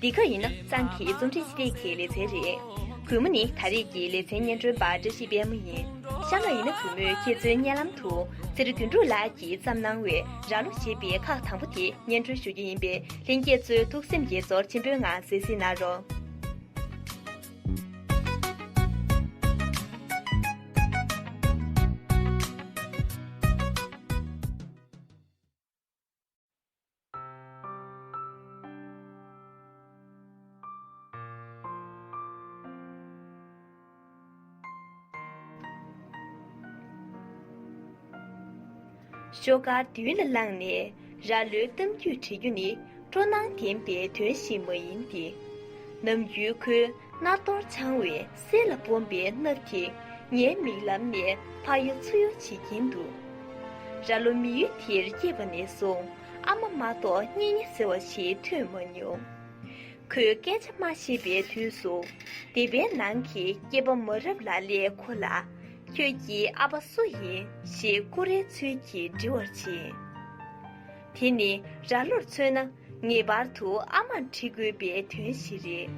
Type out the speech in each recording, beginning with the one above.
འདི་ག་ཡིན་ན་གཙང་གི་རྩོམ་སྒྲིག་ཅི་རིགས་ཀྱི་ལེ་ཚན་རེད། གུས་མོ་ནི་ད་རེས་ཀྱི་ལེ་ཚན་སྙན་སྒྲོན་པ་བཀྲ་ཤིས་དཔལ་མོ་ཡིན། ཤ་མ་ཡིན་ན་གུས་མོས་ཁྱེད་ཚོའི་བརྙན་ལམ་དུ་ཚེ་རིང་དོན་གྲུབ་ལགས་ཀྱིས་བརྩམས་གནང་བའི་རྭ་ལོ་ཞེས་པའི་ཁག་དང་པོ་དེ་སྙན་སྒྲོན་ཞུ་རྒྱུ་ཡིན་པས་ལྷན་རྒྱས་ཚོའི་ཐུགས་སེམས་དགྱེས་ཚོར་ཆེན་པོའི་ངང་གཟིགས་གཟིགས་གནང་རོགས། ཤོག་དཀར་མདུན་ལ་བླངས་ནས་ར་ལོའི་གཏམ་རྒྱུད་བྲི་རྒྱུ་ནི་སྤྲོ་སྣང་ལྡན་པའི་དོན་ཞིག་མ་ཡིན་ཏེ། ནམ་རྒྱུན་ཁོའི་སྣར་ཐོར་འཆང་བའི་གསལ་ལ་སྦོམ་པའི་སྣབས་ཀྱིས་ངའི་མིག་ལམ་ནས་ཕ་ཡོ་མཚུ་ཡོ་བྱེད་ཀྱིན་འདུག་ར་ལོ་མི་ཡུལ་དེར་སྐྱེས་པ་ནས་བཟུང་ཨ་མ་མ་གཏོགས་གཉེན་ཉེ་ཟེར་བ་ཞིག་ཐོས་མ་མྱོང། ཁོས་སྐད་ཆ་སྨྲ་ཤེས་པའི་དུས་སུ་སྡེ་པའི་ནང་གི་སྐྱེས་པ་མ་རབས་ལ་ལས་ཁོ་ལ། ཁྱོད་ཀྱི་ཨ་ཕ་སུ་ཡིན་ཞེས་ཀུ་རེའི་ཚུལ་གྱིས་འདྲི་བར་བྱེད། དེ་ནི་ར་ལོར་མཚོན་ན་ངེས་པར་དུ་ཨ་མར་འདྲི་དགོས་པའི་དོན་ཞིག་རེད།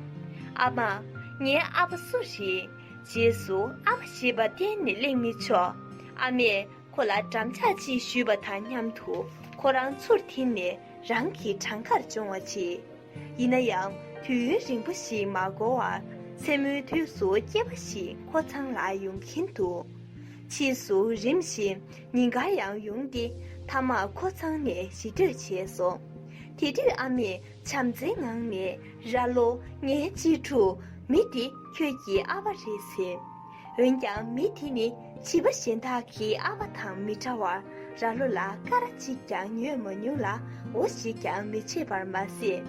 ཨ་མ། ངའི་ཨ་ཕ་སུ་རེད། རྗེས་སུ་ཨ་ཕ་ཞེས་པ་གཏན་ནས་གླེང་མི་ཆོག་ཨ་མས་ཁོ་ལ་འགྲམ་ལྕག་ཅིག་གཞུས་པ་དང་མཉམ་དུ་ཁོ་རང་ཚུར་འཐེན་ནས་རང་གི་བྲང་ཁར་མཆོང་བ་བྱེད། ཡིན་ན་ཡང་དུས་ཡུན་རིང་པོ་ཞིག་མ་འགོར་བར་མཚན་མོའི་དུས་སུ་སྐྱེས་པ་ཞིག་ཁོ་ཚང་ལ་ཡོང་གིན་འདུག་ཕྱིས་སུ་རིམ་བཞིན་ཉིན་འགར་ཡང་ཡོང་སྟེ་མཐའ་མར་ཁོ་ཚང་ནས་ཞི་གྲོས་བྱས་སོང། དེ་དུས་ཨ་མས་བྱམས་བརྩེའི་ངང་ནས་ར་ལོ་ངའི་གཅེས་ཕྲུག་མི་དེ་ཁྱོད་ཀྱི་ཨ་ཕ་རེད་ཟེར། འོན་ཀྱང་མི་དེ་ནི་བྱིས་པ་གཞན་དག་གི་ཨ་མ་དང་མི་འདྲ་བར་ར་ལོ་ལ་ཀ་ར་གཅིག་ཀྱང་ཉོས་མ་མྱོང་ལ་འོ་ཞིག་ཀྱང་མི་བྱེད་པར་མ་ཟད།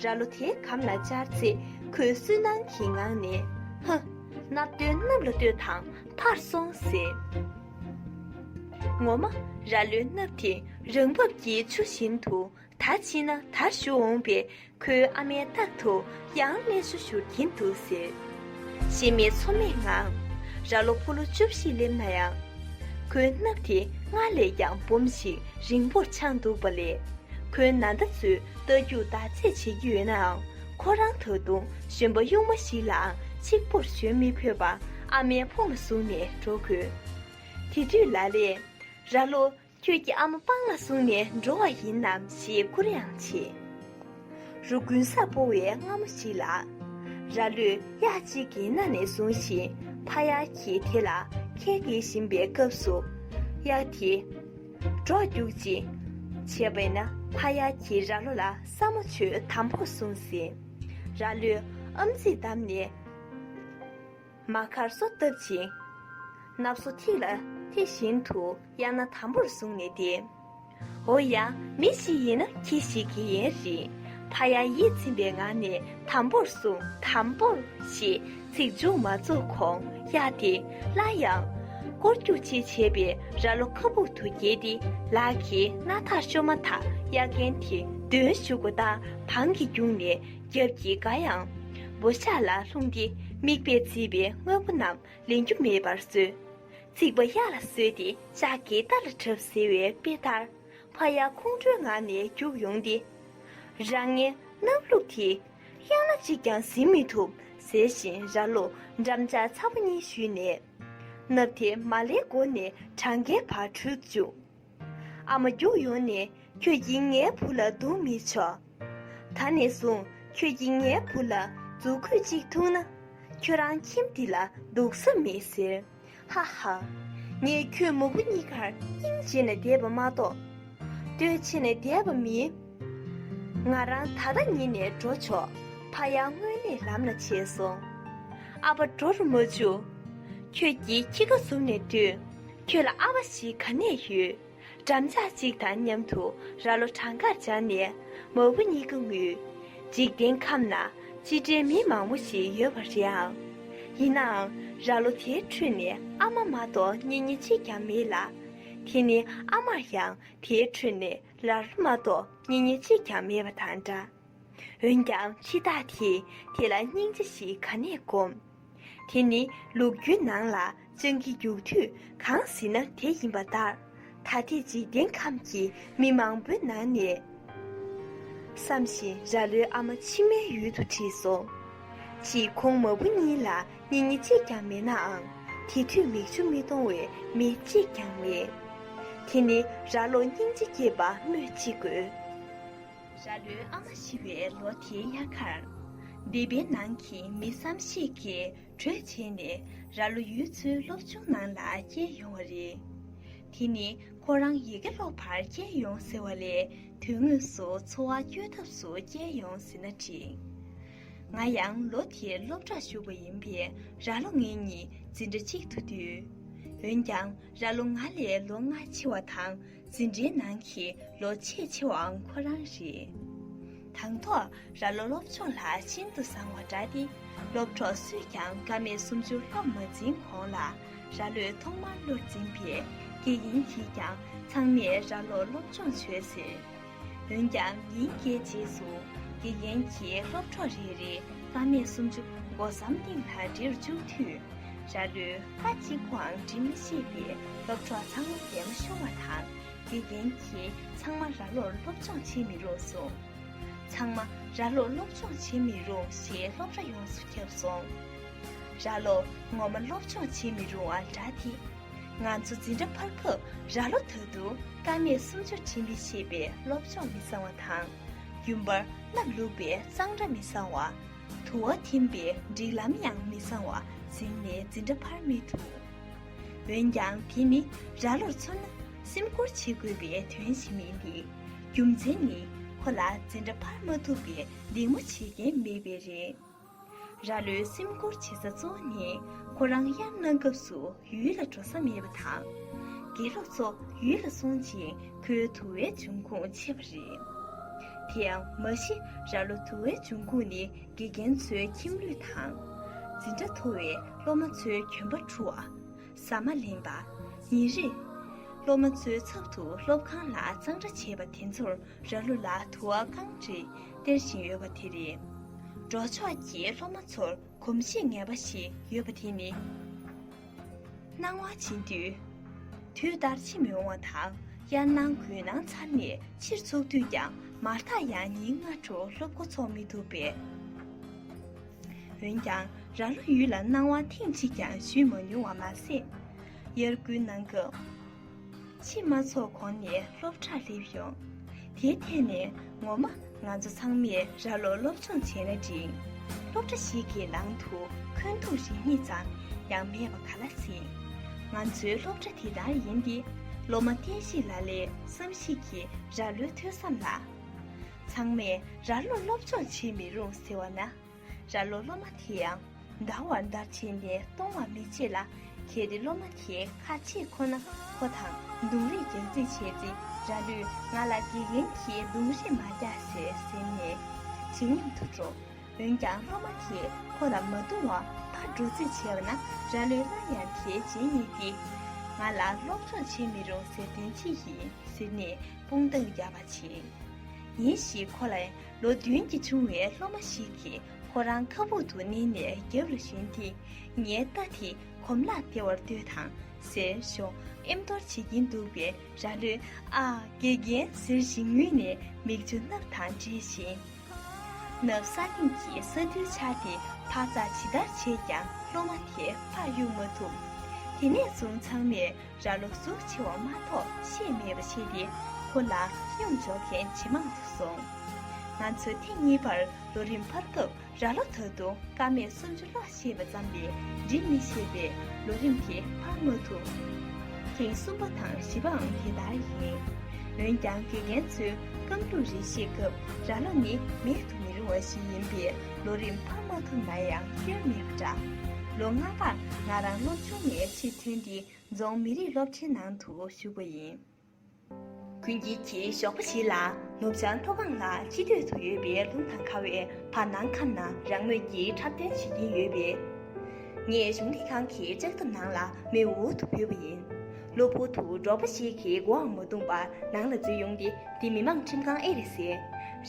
ར་ལོ་དེ་གམ་ལ་བཅར་ཚེ་ཁོས་སུན་སྣང་གི་ངང་ནས། ཧ། ནག་སྟོན་གནམ་ལ་བསྟོད་དང་ཕར་སོང་ཟེར། ངོ་མ། ར་ལོའི་སྣབས་དེ་རང་བབས་ཀྱི་ཆུ་བཞིན་དུ་ད་ཕྱིན་ན་ད་བཞུགས་འོངས་པས་ཁོའི་ཨ་མའི་རྟག་ཏུ་ཡང་སྨན་སུ་བཞུར་གྱིན་འདུག་ཟེར། ཤེས་མེད་ཚོར་མེད་ངང་ར་ལོ་ཕོ་ལོ་བཅུ་བཞི་སླེབས་ན་ཡང། ཁོའི་སྣབས་དེ་སྔར་ལས་ཀྱང་འབུམ་ཞིག་རིང་པོར་འཕྱང་འདུག་པ་ལས། ཁོའི་ན་ཟླ་ཚོས་རྟ་རྒྱུག་ཟླ་ཚེས་བྱེད་ཀྱི་ཡོད་ནའང་ཁོ་རང་ད་དུང་གཞོན་པ་གཡུག་མ་ཞིག་ལའང་གཅིག་པོར་གཞོན་མི་ཕོད་པ་ཨ་མའི་ཕོ་མོ་བཟུང་ནས་འགྲོ་དགོས། དེ་དུས་ལ་ལས། ར་ལོ། ཁྱོད་ཀྱི་ཨ་མ་སྤང་ལ་བཟུང་ནས་འགྲོ་བ་ཡིན་ནམ་ཞེས་བསྐུར་ཡང་བྱེད། རུ་དགུན་ས་སྤོ་བའི་སྔ་མོ་ཞིག་ལ། ར་ལུས་གཡག་གཅིག་གི་སྣ་ནས་བཟུང་ཞིང་ཕ་གཡག་གིས་དེ་ལ་ཁལ་འདེད་བཞིན་པའི་སྐབས་སུ། གཡག་དེས། འགྲོགས་རྒྱུག་ཅིག། བྱས་པས་ན་ཕ་གཡག་གིས་ར་ལོ་ལ་ས་མོ་ཆུ་དམ་པོར་བཟུང་ཟིན། ར་ལུས་ཨམ་ཚིག་བསྡམས་ནས། མ་མཁར་སོ་བཏབ་ཅིང། ནབ་སོ་ཐིག་ལ་དེ་བཞིན་དུ་གཡག་སྣ་དམ་པོར་བཟུང་ནས་བསྡད། འོ་ཡ། མི་ཞིག་ཡིན་ན་ཁྱི་ཞིག་གི་ཡན་རིང་ཕ་ཡ་ཡིད་ཚིམ་པའི་ངང་ནས་དམ་པོར་བཟུང། དམ་པོ། ཞེས་ཚིག་མཇུག་མ་རྫོགས་གོང་གཡག་དེ་སླར་ཡང། སྐོར་རྒྱུག་ཅིག་བྱས་པས་རྭ་ལོ་ཁ་སྦུག་ཏུ་འགྱེལ་ཏེ་ལག་གིས་སྣ་ཐག་ཤོར་མ་ཐག་གཡག་རྒན་དེ་མདུན་ཞུགས་སྒོ་ལྟར་བང་གིས་བརྒྱུགས་ནས། རྒྱབ་ཀྱི་སྒ་ཡང། བོ་གཤགས་ལ་ལྷུང་སྟེ་རྨིག་པས་བརྫིས་པའི་དངོས་པོ་རྣམས་ལེན་རྒྱུ་མེད་པར་བཟོས། རྩིག་པ་གཡའ་ལ་བཟོས་ཏེ་ལྕགས་ཀྱི་རྟ་ལ་བྲབ་ཟེར་བའི་དཔེ་ལྟར། ཕ་གཡའ་ཁོང་ཁྲོའི་ངང་ནས་རྒྱུགས་ཡོང་སྟེ། རང་ངའི་སྣབས་བླུགས་དེ། གཡང་ལ་གཅིག་ཀྱང་ཟིན་མི་ཐུབ་ཟེར་བཞིན་ར་ལོ་འགྲམ་ལྕགས་ཚ་བོ་གཉིས་བཤུས་ནས། སྣབས་དེ་མ་ལེགས་སྒོ་ནས་གྲང་གའི་བར་འཁྲུད་བཅུག། ཨ་མ་རྒྱུག་ཡོང་ནས་ཁྱོད་ཀྱིས་ངའི་བུ་ལ་རྡུང་མི་ཆོག། ད་ནས་བཟུང་ཁྱོད་ཀྱིས་ངའི་བུ་ལ་རྫུ་འཁོད་ཅིག་འཐུང་ན། ཁྱོད་རང་ཁྱིམ་འདི་ལ་འདུག་ས་མེད་ཟེར། ཧ་ཧ། ངས་ཁྱོད་མོ་བུ་གཉིས་ཀར་སྙིང་རྗེ་ནས་དེད་པ་མ་གཏོགས། སྟོད་ཆེ་ནས་དེད་པ་མིན། ང་རང་ད་ལྟ་ཉིད་ནས་འགྲོ་ཆོག་ཕ་ཡང་དངོས་གནས་ལམ་ལ་ཆས་སོང། ཨ་ཕ་འགྲོ་རུ་མ་བཅུག། ཁྱོད་ཀྱིས་ཁྱི་ཁ་ཟུམ་ནས་སྡོད། ཁྱོད་ལ་ཨ་བ་ཞིག་ག་ནས་ཡོད། འགྲམ་ལྕག་གཅིག་དང་མཉམ་དུ་ར་ལོ་བྲང་ཁར་སྦྱར་ནས་མ་བུ་གཉིས་ཀ་ངུས། འཇིག་རྟེན་ཁམས་ན་ཅི་འདྲའི་མི་མང་བོ་ཞིག་ཡོད་པ་རེད་ཨང། ཡིན་ནའང་ར་ལོ་དེའི་ཁྲོད་ནས་ཨ་མ་མ་གཏོགས་གཉེན་ཉེ་གཅིག་ཀྱང་མེད་ལ། དེ་ནི་ཨ་མར་ཡང་དེའི་ཁྲོད་ནས་ར་ལོ་མ་གཏོགས་གཉེན་ཉེ་གཅིག་ཀྱང་མེད་པ་དང་འདྲ། འོན་ཀྱང་འཆི་བདག་དེས་དེ་ལ་སྙིང་རྗེ་ཞིག་ག་ནས་བསྒོམ། དེ་ནི་ལུག་ཁྱུའི་ནང་ལ་སྤྱང་ཀི་རྒྱུག་དུས་གང་ཟིན་ན་དེ་ཡིན་པ་ལྟར། ད་ཐེངས་འཇིག་རྟེན་ཁམས་ཀྱི་མི་མང་པོའི་ནང་ནས། བསམ་བཞིན་ར་ལོའི་ཨ་མ་མཆི་མའི་ཡུལ་དུ་ཁྲིད་སོང། ཕྱིས་ཁོང་མ་བུ་གཉིས་ལ་སྙིང་ཉེ་གཅིག་ཀྱང་མེད་ནའང། དེ་དུས་མིག་ཆུ་མི་གཏོང་བའི་མི་གཅིག་ཀྱང་མེད། དེ་ནི་ར་ལོ་སྙིང་རྗེ་སྐྱེས་པ་སྨོས་ཅི་དགོས། ར་ལོའི་ཨ་མ་ཤི་བའི་ལོ་དེའི་དབྱར་ཁར། སྡེ་པའི་ནང་གི་མི་བསམ་ཤེས་ཀྱིས་གྲོས་བྱས་ནས་ར་ལོ་ཡུལ་ཚོའི་སློབ་ཆུང་ནང་ལ་བསྐྱལ་ཡོང་བ་རེད། དེ་ནི་ཁོ་རང་ཡི་གེ་ཀློག་པར་བསྐྱལ་ཡོང་ཟེར་བ་ལས་དོན་དངོས་སུ་འཚོ་བ་སྐྱོལ་ཐབས་སུ་བསྐྱལ་ཡོང་ཟེར་ན་འགྲིག། ང་ཡང་ལོ་དེར་སློབ་གྲྭར་ཞུགས་པ་ཡིན་པས་ར་ལོ་ངེད་གཉིས་འཛིན་གྲྭ་གཅིག་ཏུ་འདུས། འོན་ཀྱང་ར་ལོ་ང་ལས་ལོ་ལྔ་ཆེ་བ་དང། འཛིན་གྲྭའི་ནང་གི་ལོ་ཆེས་ཆེ་བའང་ཁོ་རང་རེད། དང་ཐོག་ར་ལོ་སློབ་ཆུང་ལ་ཤིན་ཏུ་བཟང་བ་འདྲ་སྟེ་སློབ་གྲོགས་སུས་ཀྱང་ཀ་མད་སུམ་ཅུར་སློབ་མ་འཛིན་གོང་ལ་ར་ལོས་ཐོག་མར་བློར་འཛིན་པས་སྐྱེས་ཡིན་གྱིས་ཀྱང་ཚང་མས་ར་ལོ་སློབ་སྦྱོང་བྱོས་ཟེར། འོན་ཀྱང་ཉིན་བརྒྱའི་རྗེས་སུ་དགེ་རྒན་གྱིས་སློབ་གྲོགས་རེ་རེ་སྐར་མས་སུམ་ཅུ་སྒོ་ཟམ་སྟེང་ལ་འདྲིར་བཅུག་དུས། ར་ལུས་པ་གཅིག་པུའང་འབྲི་མི་ཤེས་པའི་སློབ་གྲོགས་ཚང་མ་འདས་མ་ཤོར་བ་དང་དགེ་རྒན་གྱིས་ཚང་མ་ར་ལོར་སློབ་སྦྱོང་བྱེད་མི་རུང་གསུངས། ཚང་མ་ར་ལོར་སློབ་སྦྱོང་བྱེད་མི་རུང་ཞེས་སློབ་ར་ཡོངས་སུ་ཁྱབ་སོང། ར་ལོ་ངོ་མ་སློབ་སྦྱོང་བྱེད་མི་རུང་བ་འདྲ་སྟེ། ང་ཚོ་འཛིན་གྲྭ་འཕར་སྐབས་ར་ལོ་དོད་དུ་ཀ་སྨད་སུམ་ཅུ་འཕྲི་མི་ཤེས་པའི་སློབ་སྦྱོང་མི་བཟང་བ་དང། རྒྱུན་པར་སྣབས་ལུག་པའི་གཙང་སྦྲ་མི་བཟང་བ། དུ་བ་འཐིམ་པའི་སྒྲིག་ལམ་ཡང་མི་བཟང་བ་གཟིགས་ནས་འཛིན་གྲྭ་འཕར་མི་ཐུབ། འོན་ཀྱང་དེ་ནི་ར་ལོར་མཚོན་ན་སེམས་ཁུར་བྱེད་དགོས་པའི་དོན་ཞིག་མིན་ཏེ། རྒྱུ་མཚན་ནི་ཁོ་ལ་འཛིན་གྲྭ་འཕར་མ་ཐུབ་པའི་སྡིགས་མོ་བྱེད་མཁན་མེད་པས་རེད། ར་ལོའི་སེམས་ཁུར་བྱེད་ས་གཙོ་བོ་ནི་ཁོ་རང་དབྱར་གནང་སྐབས་སུ་ཡུལ་ལ་འགྲོ་ས་མེད་པ་དང། དགེ་སློབ་ཚོ་ཡུལ་ལ་སོང་ཅིང་ཁོའི་དུ་བའི་འབྱུང་ཁུངས་ཆད་པ་རེད། དེ་ཡང་མ་གཞི་ར་ལོ་དུ་བའི་འབྱུང་ཁུངས་ནི་དགེ་རྒན་ཚོའི་ཁྱིམ་ལུས་དང། འཛིན་གྲྭ་མཐོ་བའི་སློབ་མ་ཚོའི་གྱོན་པ་འཁྲུ་བ། ཟ་མ་ལེན་པ། ཉིན་རེ། སློབ་མ་ཚོའི་ཚབ་ཏུ་སློབ་ཁང་ལ་གཙང་སྦྲ་བྱེད་པ་དེ་ཚོར་ར་ལུ་ལ་དུ་བ་རྐང་རེ་སྟེར་བཞིན་ཡོད་པ་དེ་རེད། འབྲོག་ཕྱོགས་ཀྱི་སློབ་མ་ཚོར་གོམས་གཤིས་ངན་པ་ཞིག་ཡོད་པ་དེ་ནི། སྣང་བ་འབྱིན་དུས་དུས་ལྟར་ཕྱི་མི་འོང་བ་དང་དབྱར་གནང་དགུན་གནང་ཚར་ནས་ཕྱིར་ཚུགས་དུས་ཀྱང་མར་ཐག་ཡང་ཉིན་ལྔ་དྲུག་སློབ་འགོ་ཚོགས་མི་ཐུབ་པས། འོན་ཀྱང་ར་ལོ་ཡུལ་ལ་སྣང་བ་ཐེངས་གཅིག་ཀྱང་བཞུས་མ་མྱོང་བ་མ་ཟད། དབྱར་དགུན་གནང་སྐབས་ཕྱི་མ་ཚོགས་གོང་ནས་སློབ་གྲྭར་སླེབས་ཡོང། དེའི་ཐད་ནས་ངོ་མ་ང་ཚོ་ཚང་མས་ར་ལོ་སློབ་སྦྱོང་བྱས་ན་འགྲིག། སློབ་གྲྭ་ཞིག་གི་ནང་དུ་འཁོན་འཐུང་རེ་གཉིས་ཙམ་ཡང་མེད་པ་ག་ལ་སྲིད། ང་ཚོའི་སློབ་གྲྭ་དེ་ལྟར་ཡིན་ཏེ་སློབ་མ་བསྟན་བཤིག་ལ་ལས་བསམ་བཞིག་གིས་ར་ལོའི་ཐོས་བསམ་ལ། ཚང་མས་ར་ལོ་སློབ་སྦྱོང་བྱེད་མི་རུང་ཟེར་བ་ན། ར་ལོ་སློབ་མ་དེ་ཡང་འདར་བར་འདར་བྱས་ནས་གཏོང་བར་མི་བྱེད་ལ། གལ་ཏེ་སློབ་མ་དེ་ཁ་ཆེ་ཁོ་ན་ཁོ་དང་རྡུང་རེས་རྒྱག་རྩིས་བྱས་ཚེ་ར་ལོས་ང་ལ་དགེ་རྒན་གྱིས་རྡུང་རེས་མ་རྒྱག་ཟེར་ཟེར་ནས་ཇེ་ཉམས་དུ་འགྲོ། འོན་ཀྱང་སློབ་མ་དེས་ཁོ་ལ་མ་རྡུང་བར་ཕར་འགྲོ་རྩིས་བྱས་པ་ན་ར་ལོས་སླར་ཡང་དེའི་རྗེས་སྙེག་སྟེ། ང་ལ་སློབ་སྦྱོང་བྱེད་མི་རུང་ཟེར་དོན་ཅི་ཡིན་ཟེར་ནས་དཔུང་རྡང་ཡར་བར་བྱེད། ཉིན་ཞིག་ཁོ་ལ་ལོ་བདུན་གྱི་ཆུང་བའི་སློབ་མ་ཞིག་གིས་ཁོ་རང་ཁ་སྦུག་ཏུ་མནན་ནས་རྒྱབ་ལ་ཞོན་ཏེ། ངའི་རྟ་དེ་གོམ་ལག་དེ་བར་སྡོད་དང་ཟེར་ཞོག་ཨེམ་གཏོར་བྱེད་ཀྱིན་འདུག་པའི་ར་ལོས་ཨ། དགེ་རྒན་ཟེར་ཞིང་ངུས་ནས་མིག་ཆུ་སྣབ་དང་འདྲེས་ཤིང། ནབ་ས་གླིང་གི་ས་རྡུལ་ཆགས་ཏེ་འཕག་འཚག་ཇི་ལྟར་བྱས་ཀྱང་སློབ་མ་དེ་ཕར་གཡུག་མ་ཐུབ། དེ་ནས་བཟུང་ཚང་མས་ར་ལོ་གཟུགས་ཆེ་བ་མ་གཏོགས་ཤེས་མེད་པ་བྱས་ཏེ་ཁོ་ལ་སྙོམས་འཇོག་མཁན་ཇེ་མང་དུ་སོང། ང་ཚོས་ཐེངས་གཉིས་པར་ལོ་རིམ་འཕར་སྐབས་ར་ལོ་ད་དུང་སྐར་མས་སུམ་ཅུ་ལྷག་ཤེས་པ་ཙམ་ལས་འབྲི་མི་ཤེས་པས་ལོ་རིམ་དེ་འཕར་མ་ཐུབ། ཐེངས་གསུམ་པ་དང་བཞི་པའང་དེ་ལྟར་ཡིན། འོན་ཀྱང་དགེ་རྒན་ཚོའི་སྐབས་འགྲོ་རེ་ཤེས་སྐབས་ར་ལོ་ནི་མེད་དུ་མི་རུང་བ་ཞིག་ཡིན་པས། ལོ་རིམ་འཕར་མ་ཐུབ་ན་ཡང་སྐྱོན་མེད་པ་འདྲ། ལོ་ལྔ་པར་ང་རང་སློབ་ཆུང་ནས་ཕྱིར་ཐོན་ཏེ་རྫོང་མི་རིགས་སློབ་ཆེན་ནང་དུ་ཞུགས་པ་ཡིན། གུན་དཀྱིལ་གྱི་ཞོགས་པ་ཞིག་ལ་ནུབ་བྱང་མཐོ་སྒང་ལ་ཕྱི་སྟོད་དུ་ཡོད་པའི་ལུང་ཐང་ཁ་བའི་བར་སྣང་ཁམས་ན་རང་མོས་ཀྱིས་འཁྲབ་སྟོན་བྱེད་ཀྱིན་ཡོད་པས། ངས་གཞུང་ལས་ཁང་གི་ལྕགས་ཐབ་ནང་ལ་མེ་འུར་དུ་བུད་པ་ཡིན། གློ་བུར་དུ་འབྲོག་པ་ཞིག་གིས་མགོའང་མ་བཏུམས་པར་ནང་ལ་འཛུལ་ཡོང་སྟེ་འདི་མི་མང་ཁྲིམས་ཁང་ཨེ་རེད་ཟེར།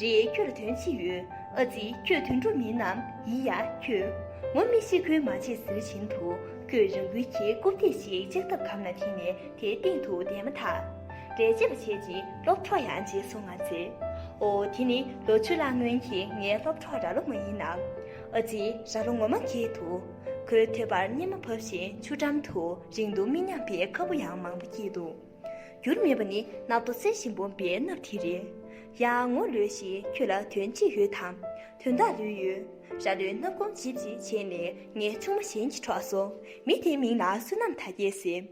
རེད་ཁྱོད་དོན་ཅི་ཡོད་ཨ་ཙི་ཁྱོད་དུད་འགྲོ་མིན་ནམ་ཡི་ཡ་ཁྱོད། ངོ་མི་ཤེས་ཁུལ་མ་བྱེད་ཟེར་བཞིན་དུ་ཁོས་རང་འགུལ་གྱིས་རྐུབ་སྟེགས་ཤིག་གཅིག་ཐབ་གམ་ལ་འཐེན་ནས་དེའི་སྟེང་དུ་བསྡད་མ་ཐག། འགྲེལ་བྱེད་པ་བྱས་རྗེས་སློབ་གྲོགས་ཡང་བརྗེད་སོང་ང་ཚེ། ཨོ་དེ་ནི་ལོ་བཅུ་ལྷག་སྔོན་གྱི་ངའི་སློབ་གྲོགས་ར་ལོ་མ་ཡིན་ནམ། ཨ་ཙི་ར་ལོ་ངོ་མ་ཁྱེད་འདུག་ཁོའི་ཐོད་པར་སྙེ་མ་བབས་ཤིང་ཆུ་འགྲམ་དུ་རིང་དུ་མི་མཉམ་པའི་ཁ་སྤུ་ཡང་མང་པོ་སྐྱེས་འདུག། འགྱུར་མེད་པ་ནི་ནག་ཏུ་གསལ་ཞིང་སྦོམ་པའི་སྣབས་དེ་རེད། ཡང་ངོ་ལོས་ཤིག་ཁྱོད་ལ་དོན་ཅི་ཡོད་དམ། དོན་དག་ལོས་ཡོད། ར་ལོའི་སྣབས་སྒོམ་བྱིབ་བྱིབ་བྱས་ནས་ངའི་ཆུང་མ་གཞན་གྱི་གྲོགས་སོ། མི་དེའི་མིང་ལ་བསོད་ནམས་དར་རྒྱས་ཟེར།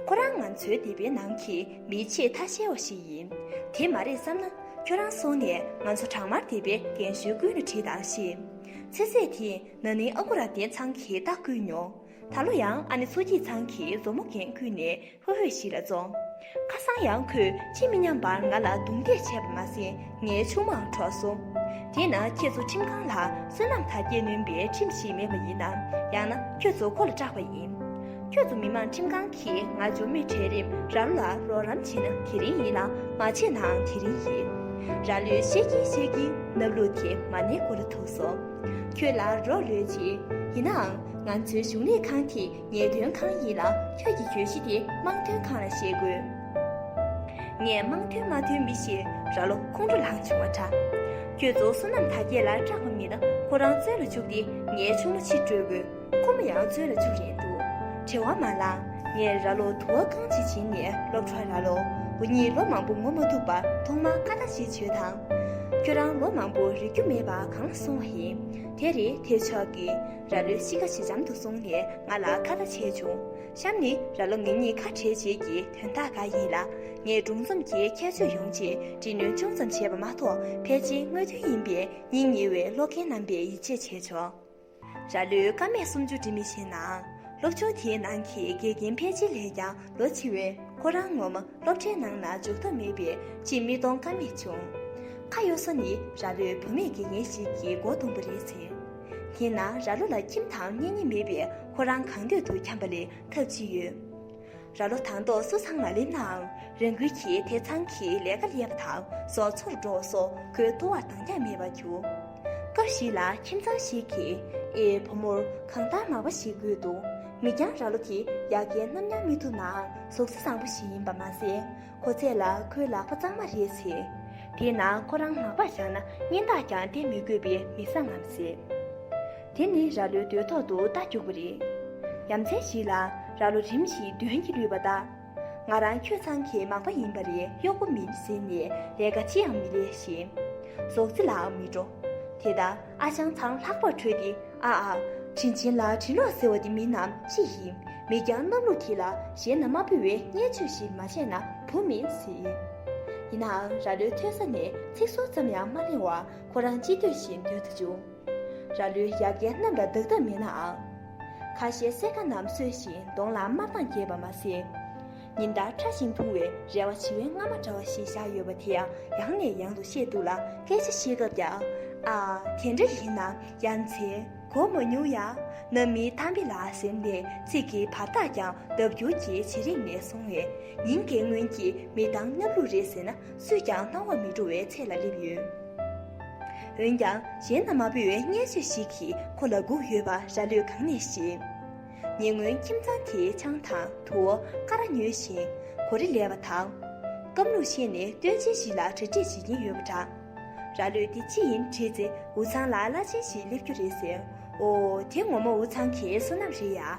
ཁོ་རང་ང་ཚོའི་སྡེ་པའི་ནང་གི་མིའི་ཆེས་ཐ་ཤལ་བ་ཞིག་ཡིན། དེ་མ་རེད་བསམ་ན་ཁྱོད་རང་སོང་ནས་ང་ཚོ་བྲག་དམར་སྡེ་པའི་རྒན་གཞོན་ཀུན་ལ་དྲིས་དང་ཤེས། ཚེ་ཟད་དེས་ན་ནིང་ཨ་ཁུ་ར་བསྟན་ཚང་གིས་རྟགས་བསྐུལ་མྱོང། ད་ལོ་ཡང་ཨ་ནེ་མཚོ་སྐྱིད་ཚང་གི་མཛོ་མོ་རྒན་བསྐུལ་ནས་ཧོས་ཧོས་ཤིག་ལ་བཙོང། ཁ་སང་ཡང་ཁོས་ཅི་མི་སྙམ་པར་ང་ལ་རྡུང་རྡེག་བྱས་པ་མ་ཟད་ངའི་ཆུང་མའང་འཕྲོག་སོང། དེས་ན་ཁྱེད་ཚོ་ཁྲིམས་ཁང་ལ་བསོད་ནམས་དར་རྒྱས་ནོན་པའི་ཁྲིམས་ཤིག་མེད་པ་ཡིན་ནམ་ཡང་ན་ཁྱོད་ཚོ་ཁོ་ལ་སྐྲག་པ་ཡིན། ཁྱོད་ཚོ་མི་མང་ཁྲིམས་ཁང་གིས་ང་ཇོ་མོའི་གྲལ་རིམ་ར་ལོ་ལ་རོགས་རམ་བྱེད་ན་དེ་རིང་ཡིན་ལ་མ་བྱས་ནའང་དེ་རིང་ཡིན། ར་ལོས་བཤད་ཀྱིན་བཤད་ཀྱིན་སྣབས་ལུག་དེ་མ་ནེའི་མགོ་ལ་ཐུག་སོང། ཁྱོད་ལ་རོགས་རེ་བྱེད། ཡིན་ནའང། ང་ཚོའི་གཞུང་ལས་ཁང་དེ་ངེས་དོན་ཁང་ཡིན་ལ་ཁྱོད་ཀྱི་གྱོད་གཞི་དེ་དམངས་དོན་ཁང་ལ་བཤད་དགོས། ངས་དམངས་དོན་མ་དོན་མི་ཞེས་ར་ལོ་ཁོང་ཁྲོ་ལངས་བྱུང་བ་འདྲ། ཁྱོད་ཚོ་བསོད་ནམས་དར་རྒྱས་ལ་སྐྲག་པ་མིན་ན་ཁོ་རང་བཙོན་ལ་བཅུག་སྟེ་ངའི་ཆུང་མ་ཕྱིར་སྤྲོད་དགོས། ཁོ་མོ་ཡང་རྩོད་ལ་བཅུག་རན་འདུག་བྲེལ་བ་མ་ལངས་ངས་ར་ལོ་དུ་བ་གང་བྱེད་བྱིན་ནས་སློབ་གྲྭ་ར་ལོ་བུ་གཉིས་ལོ་མང་པོ་ངོ་མ་ཐུག་པ་ཐོག་མ་ཨ་ལྟ་བྱེད་བྱོས་དང། ཁྱོད་རང་ལོ་མང་པོ་རིག་རྒྱུ་མེད་པ་གང་ལ་སོང་བ་ཡིན། དེ་རེད་དེ་མཆོག་གིས་ར་ལོའི་གཤིས་ཀ་ཇེ་འཇམ་དུ་སོང་ནས་ང་ལ་ཁ་བརྡ་བྱས་བྱུང། གཤམ་ནི་ར་ལོ་ངེད་གཉིས་ཁ་བྲལ་བྱེད་ཀྱི་དོན་དག་འགའ་ཡིན་ལ། ངས་སྒྲུང་རྩོམ་གྱི་ཁྱད་ཆོས་ཡོང་ཆེད་འབྲི་སྣོན་ཅུང་ཙམ་བྱས་པ་མ་གཏོགས་ཕལ་ཆེར་དངོས་དོན་ཡིན་པས་སྙིང་ཉེ་བའི་ཀློག་མཁན་རྣམ་པས་ཡིད་ཆེས་བྱས་ཆོག། ར་ལོའི་ཀ་མད་སུམ་ཅུ་འབྲི་མི་ཤེས་ནའང་སློབ་ཆུང་དེའི་ནང་གི་དགེ་རྒན་ཕལ་ཆེ་ལས་ཀྱང་ལོ་ཆེ་བས་ཁོ་རང་ངོ་མ་སློབ་གྲྭའི་ནང་ན་འཇུག་ཐབས་མེད་པས་ཅིས་མི་གཏོང་ཀ་མེད་བྱུང། ཁ་གཡོ་ས་ནི་ར་ལོའི་བུ་མེད་དགེ་རྒན་ཞིག་གི་མགོ་རྡུང་བ་རེད་ཟེར། དེས་ན་ར་ལོ་ལ་ཁྱིམ་དང་གཉེན་ཉེ་མེད་པས་ཁོ་རང་གང་འདོད་དུ་འཁྱམ་པ་ལས་ཐབས་ཅི་ཡོད། ར་ལོ་དང་ཏོག་སོ་ཚང་མ་ལེན་ནའང་རང་འགུལ་གྱིས་དེ་ཚང་གི་ལས་ཀ་ལས་པ་དང་བཟོ་ཚོར་འགྲོ་བ་སོགས་ཁོའི་ལྟོ་བར་འདང་རྒྱག་མེད་པར་གྱུར། སྐབས་ཤིག་ལ་ཁྱིམ་ཚང་ཞིག་གིས་ཨེ་བུ་མོར་གང་ལྟར་མང་བ་ཞིག་དགོས་འདུག་མི་རྐྱང་ར་ལོ་དེ་ཡག་གེ་ནམ་ཡང་མི་ཐུབ་ནའང་ཟུག་གཟི་བཟང་པོ་ཞིག་ཡིན་པ་མ་ཟད། ཁོ་ཚད་ལ་ཁོའི་ལག་པ་གཙང་མ་རེད་ཟེར། དེས་ན་ཁོ་རང་ལག་པར་བཞག་ན་སྙན་དག་ཀྱང་བསྟན་མི་དགོས་པའི་མི་བཟང་ངམ་ཟེར། དེ་ནི་རྭ་ལོའི་འདོད་ཐོག་ཏུ་རྟ་རྒྱུགས་པ་རེད། ཡ་མཚན་ཞིག་ལ་རྭ་ལོ་རིམ་བཞིན་གདོན་གྱིས་བསླུས་པ་ལྟ། ང་རང་ཁྱོད་ཚང་གི་མག་པ་ཡིན་པ་རེད་གཡོག་པོ་མིན་ཟེར་ནས་ལས་ཀ་ཅི་ཡང་མི་ལས་ཤིང། ཟོག་རྫི་ལའང་མི་འགྲོ། དེ་ལྟ། ཨ་ཅང་ཚང་ལྷག་པར་ཁྲོས་ཏེ་ཨ་ཨ། དྲིན་ཆེན་ལ་དྲིན་ལོག་ཟེར་བ་འདི་མིན་ནམ་ཅི་ཡིན། མེད་ཀྱང་གནམ་ལོ་དེ་ལ་གཞན་ན་མ་ཕུལ་བའི་བརྙས་བཅོས་ཤིག་མ་བྱས་ན་བུ་མིན་སྲིད། ཡིན་ནའང་ར་ལོའི་ཐོས་ས་ནས་ཚིག་ཟུར་ཙམ་ཡང་མ་གླེང་བར་ཁོ་རང་ཅི་འདོད་བཞིན་སྡོད་དུ་བཅུག། ར་ལོས་ཡ་རྒན་རྣམས་ལ་བདག་ཐབས་མེད་ནའང། ཁ་ཤས་གསེར་ཁ་རྣམས་གསོས་ཤིང་གདོང་ལ་དམར་མདངས་རྒྱས་པ་མ་ཟད། ཉིན་ལྟར་ཕྲ་ཞིང་ཐུང་བའི་རལ་བ་བྱི་བའི་རྔ་མ་འདྲ་བ་ཞིག་བཞག་ཡོད་པ་དེ་ཡང་ཡང་ནས་ཡང་དུ་བཤད་འདུག་ལ་སྐད་ཆ་བཤད་སྐབས་ཀྱང། ཨ། དེ་འདྲ་ཡིན་ན་ཡ་མཚན། གོ་མ་མྱོང་ཡ། ན་མི་ཐམས་པི་ལ་ཟེར་ནས་ཚིག་གི་བར་ཐག་ཀྱང་ལྡབ་འགྱུར་གྱིས་ཇེ་རིང་ནས་སོང་བས། ཉིན་འགའི་སྔོན་གྱི་མི་དང་སྣབས་ལུག་རེད་ཟེར་ན་སུས་ཀྱང་སྣང་བ་མི་འགྲོ་བའི་ཚད་ལ་སླེབས་ཡོད། འོན་ཀྱང་གཞན་ན་མ་བུ་བའི་བརྙན་ཤོས་ཤིག་གིས་ཁོ་ལ་བསྒུགས་ཡོད་པ་ར་ལོས་གང་ནས་ཤེས། ཉེ་སྔོན་ཁྱིམ་ཚང་དེའི་ཆང་དང་དུ་བ་ཀ་ར་ཉོས་ཤིང་གོ་རེ་ལས་པ་དང། སྐམ་ལུག་ཤེས་ནས་སྟོན་ཆེན་ཞིག་ལ་གྲ་སྒྲིག་བྱེད་ཀྱིན་ཡོད་པ་འདྲ། ར་ལོས་དེ་ཅི་ཡིན་དྲིས་ཚེ་འུ་ཚང་ལ་བླ་ཆེན་ཞིག་སླེབས་རྒྱུ་རེད་ཟེར། ཨོ་དེ་ངོ་མ་འུ་ཚང་གི་བསོད་ནམས་རེད་ཡ།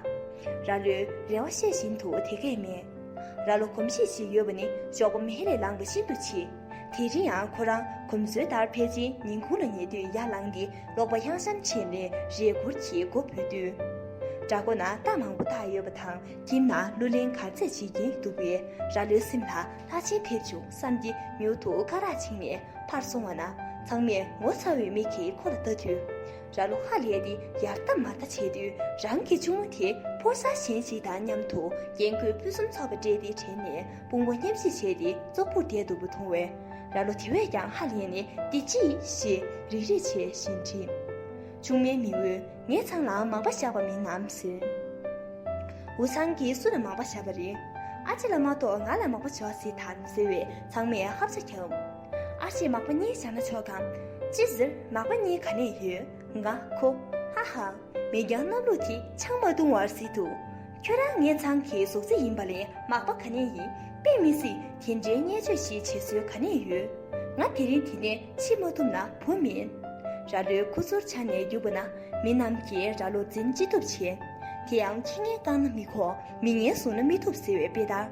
ར་ལོས་རེ་བ་བཤད་བཞིན་དུ་དེ་སྐད་སྨྲས། ར་ལོ་གོམས་གཤིས་ཤིག་ཡོད་པ་ནི་ཞོགས་པ་མེ་རེ་ལངས་པ་ཤིན་ཏུ་ཆེ། དེ་རིང་ཡང་ཁོ་རང་གོམས་སྲོལ་ལྟར་ཕལ་ཆེན་ཉིན་གུང་ལ་ཉལ་དུས་ཡར་ལངས་ཏེ་ལོག་པ་གཡང་ཤམ་ཕྱེས་ནས་རས་གུར་གྱི་སྒོ་བུད་དུས། བྲག་སྒོ་ན་རྟ་མང་པོ་བཏགས་ཡོད་པ་དང་ཁྱིམ་ན་གླུ་ལེན་གར་རྩེད་བྱེད་ཀྱིན་འདུག་པས་རྭ་ལོའི་སེམས་ལ་ལྷ་ཆེན་ཕེབས་བྱུང་བསམ་གྱི་མྱུར་དུ་སྐ་རགས་བྱིངས་ནས་ཕར་སོང་བ་ན་ཚང་མས་ངོ་ཚ་བའི་མིག་གིས་ཁོ་ལ་ལྟ་དུས། རྭ་ལོ་ཧ་ལས་ཏེ་ཡར་ལྟ་མར་ལྟ་བྱེད་དུས་རང་གི་གཅུང་མོ་དེ་ཕོ་གསར་གཞན་ཞིག་དང་མཉམ་དུ་རྒྱན་གོས་ཕུན་སུམ་ཚོགས་པ་སྤྲས་ཏེ་དྲན་ནས་དཔུང་བ་མཉམ་བཞེས་བྱས་ཏེ་ཙོག་པུར་བསྡད་འདུག་པ་མཐོང་བས། རྭ་ལོ་དེ་བས་ཀྱང་ཧ་ལས་ནས་འདི་ཅི་ཡིན་ཞེས་རིག་རིག་བྱས་བཞིན་དྲིས། ཆུང་མའི་མིང་འོས་ངའི་ཚང་ལའང་མང་པ་བཞག་པ་མིན་ནམ་ཟེར། འུ་ཚང་གིས་སུ་ལ་མང་པ་བཞག་པ་རེད། ཨ་ཅེ་ལ་མ་གཏོགས་ང་ལ་མང་པོ་བཞག་སྲིད་དམ་ཟེར་བས་ཚང་མས་ཧབ་ཆ་བརྒྱབ། ཨ་ཅེས་མག་པ་གཉིས་བཞག་ན་ཆོག་གམ། ཅི་ཟེར་མག་པ་གཉིས་ག་ནས་ཡོད། ང་ཁོ། ཧ་ཧ། མི་འགྱང་གནམ་ལོ་དེ་ཆང་མ་བཏུང་བར་སྲིད་དོ། ཁྱོད་རང་ངེད་ཚང་གི་གཟུགས་རྩི་ཡིན་པ་ལས་མག་པ་ག་ནས་ཡིན་དཔེ་མི་སྲིད་དེ་འདྲའི་བརྙས་བཅོས་ཞིག་བྱེད་སྲོལ་ག་ནས་ཡོད། ང་དེ་རིང་དེ་ནས་ཕྱི་མ་ཐུབ་ན་བུ་མིན། ར་ལོའི་ཁུ་ཚུར་འཕྱར་ནས་རྒྱུག་པ་ན་མི་རྣམས་ཀྱིས་ར་ལོ་འཛིན་ཅི་ཐུབ་བྱས། དེ་ཡང་ཁྱི་ངན་བཀག་ན་མི་ཁོག་མི་ངན་བཟུང་ན་མི་ཐུབ་ཟེར་བའི་དཔེ་ལྟར་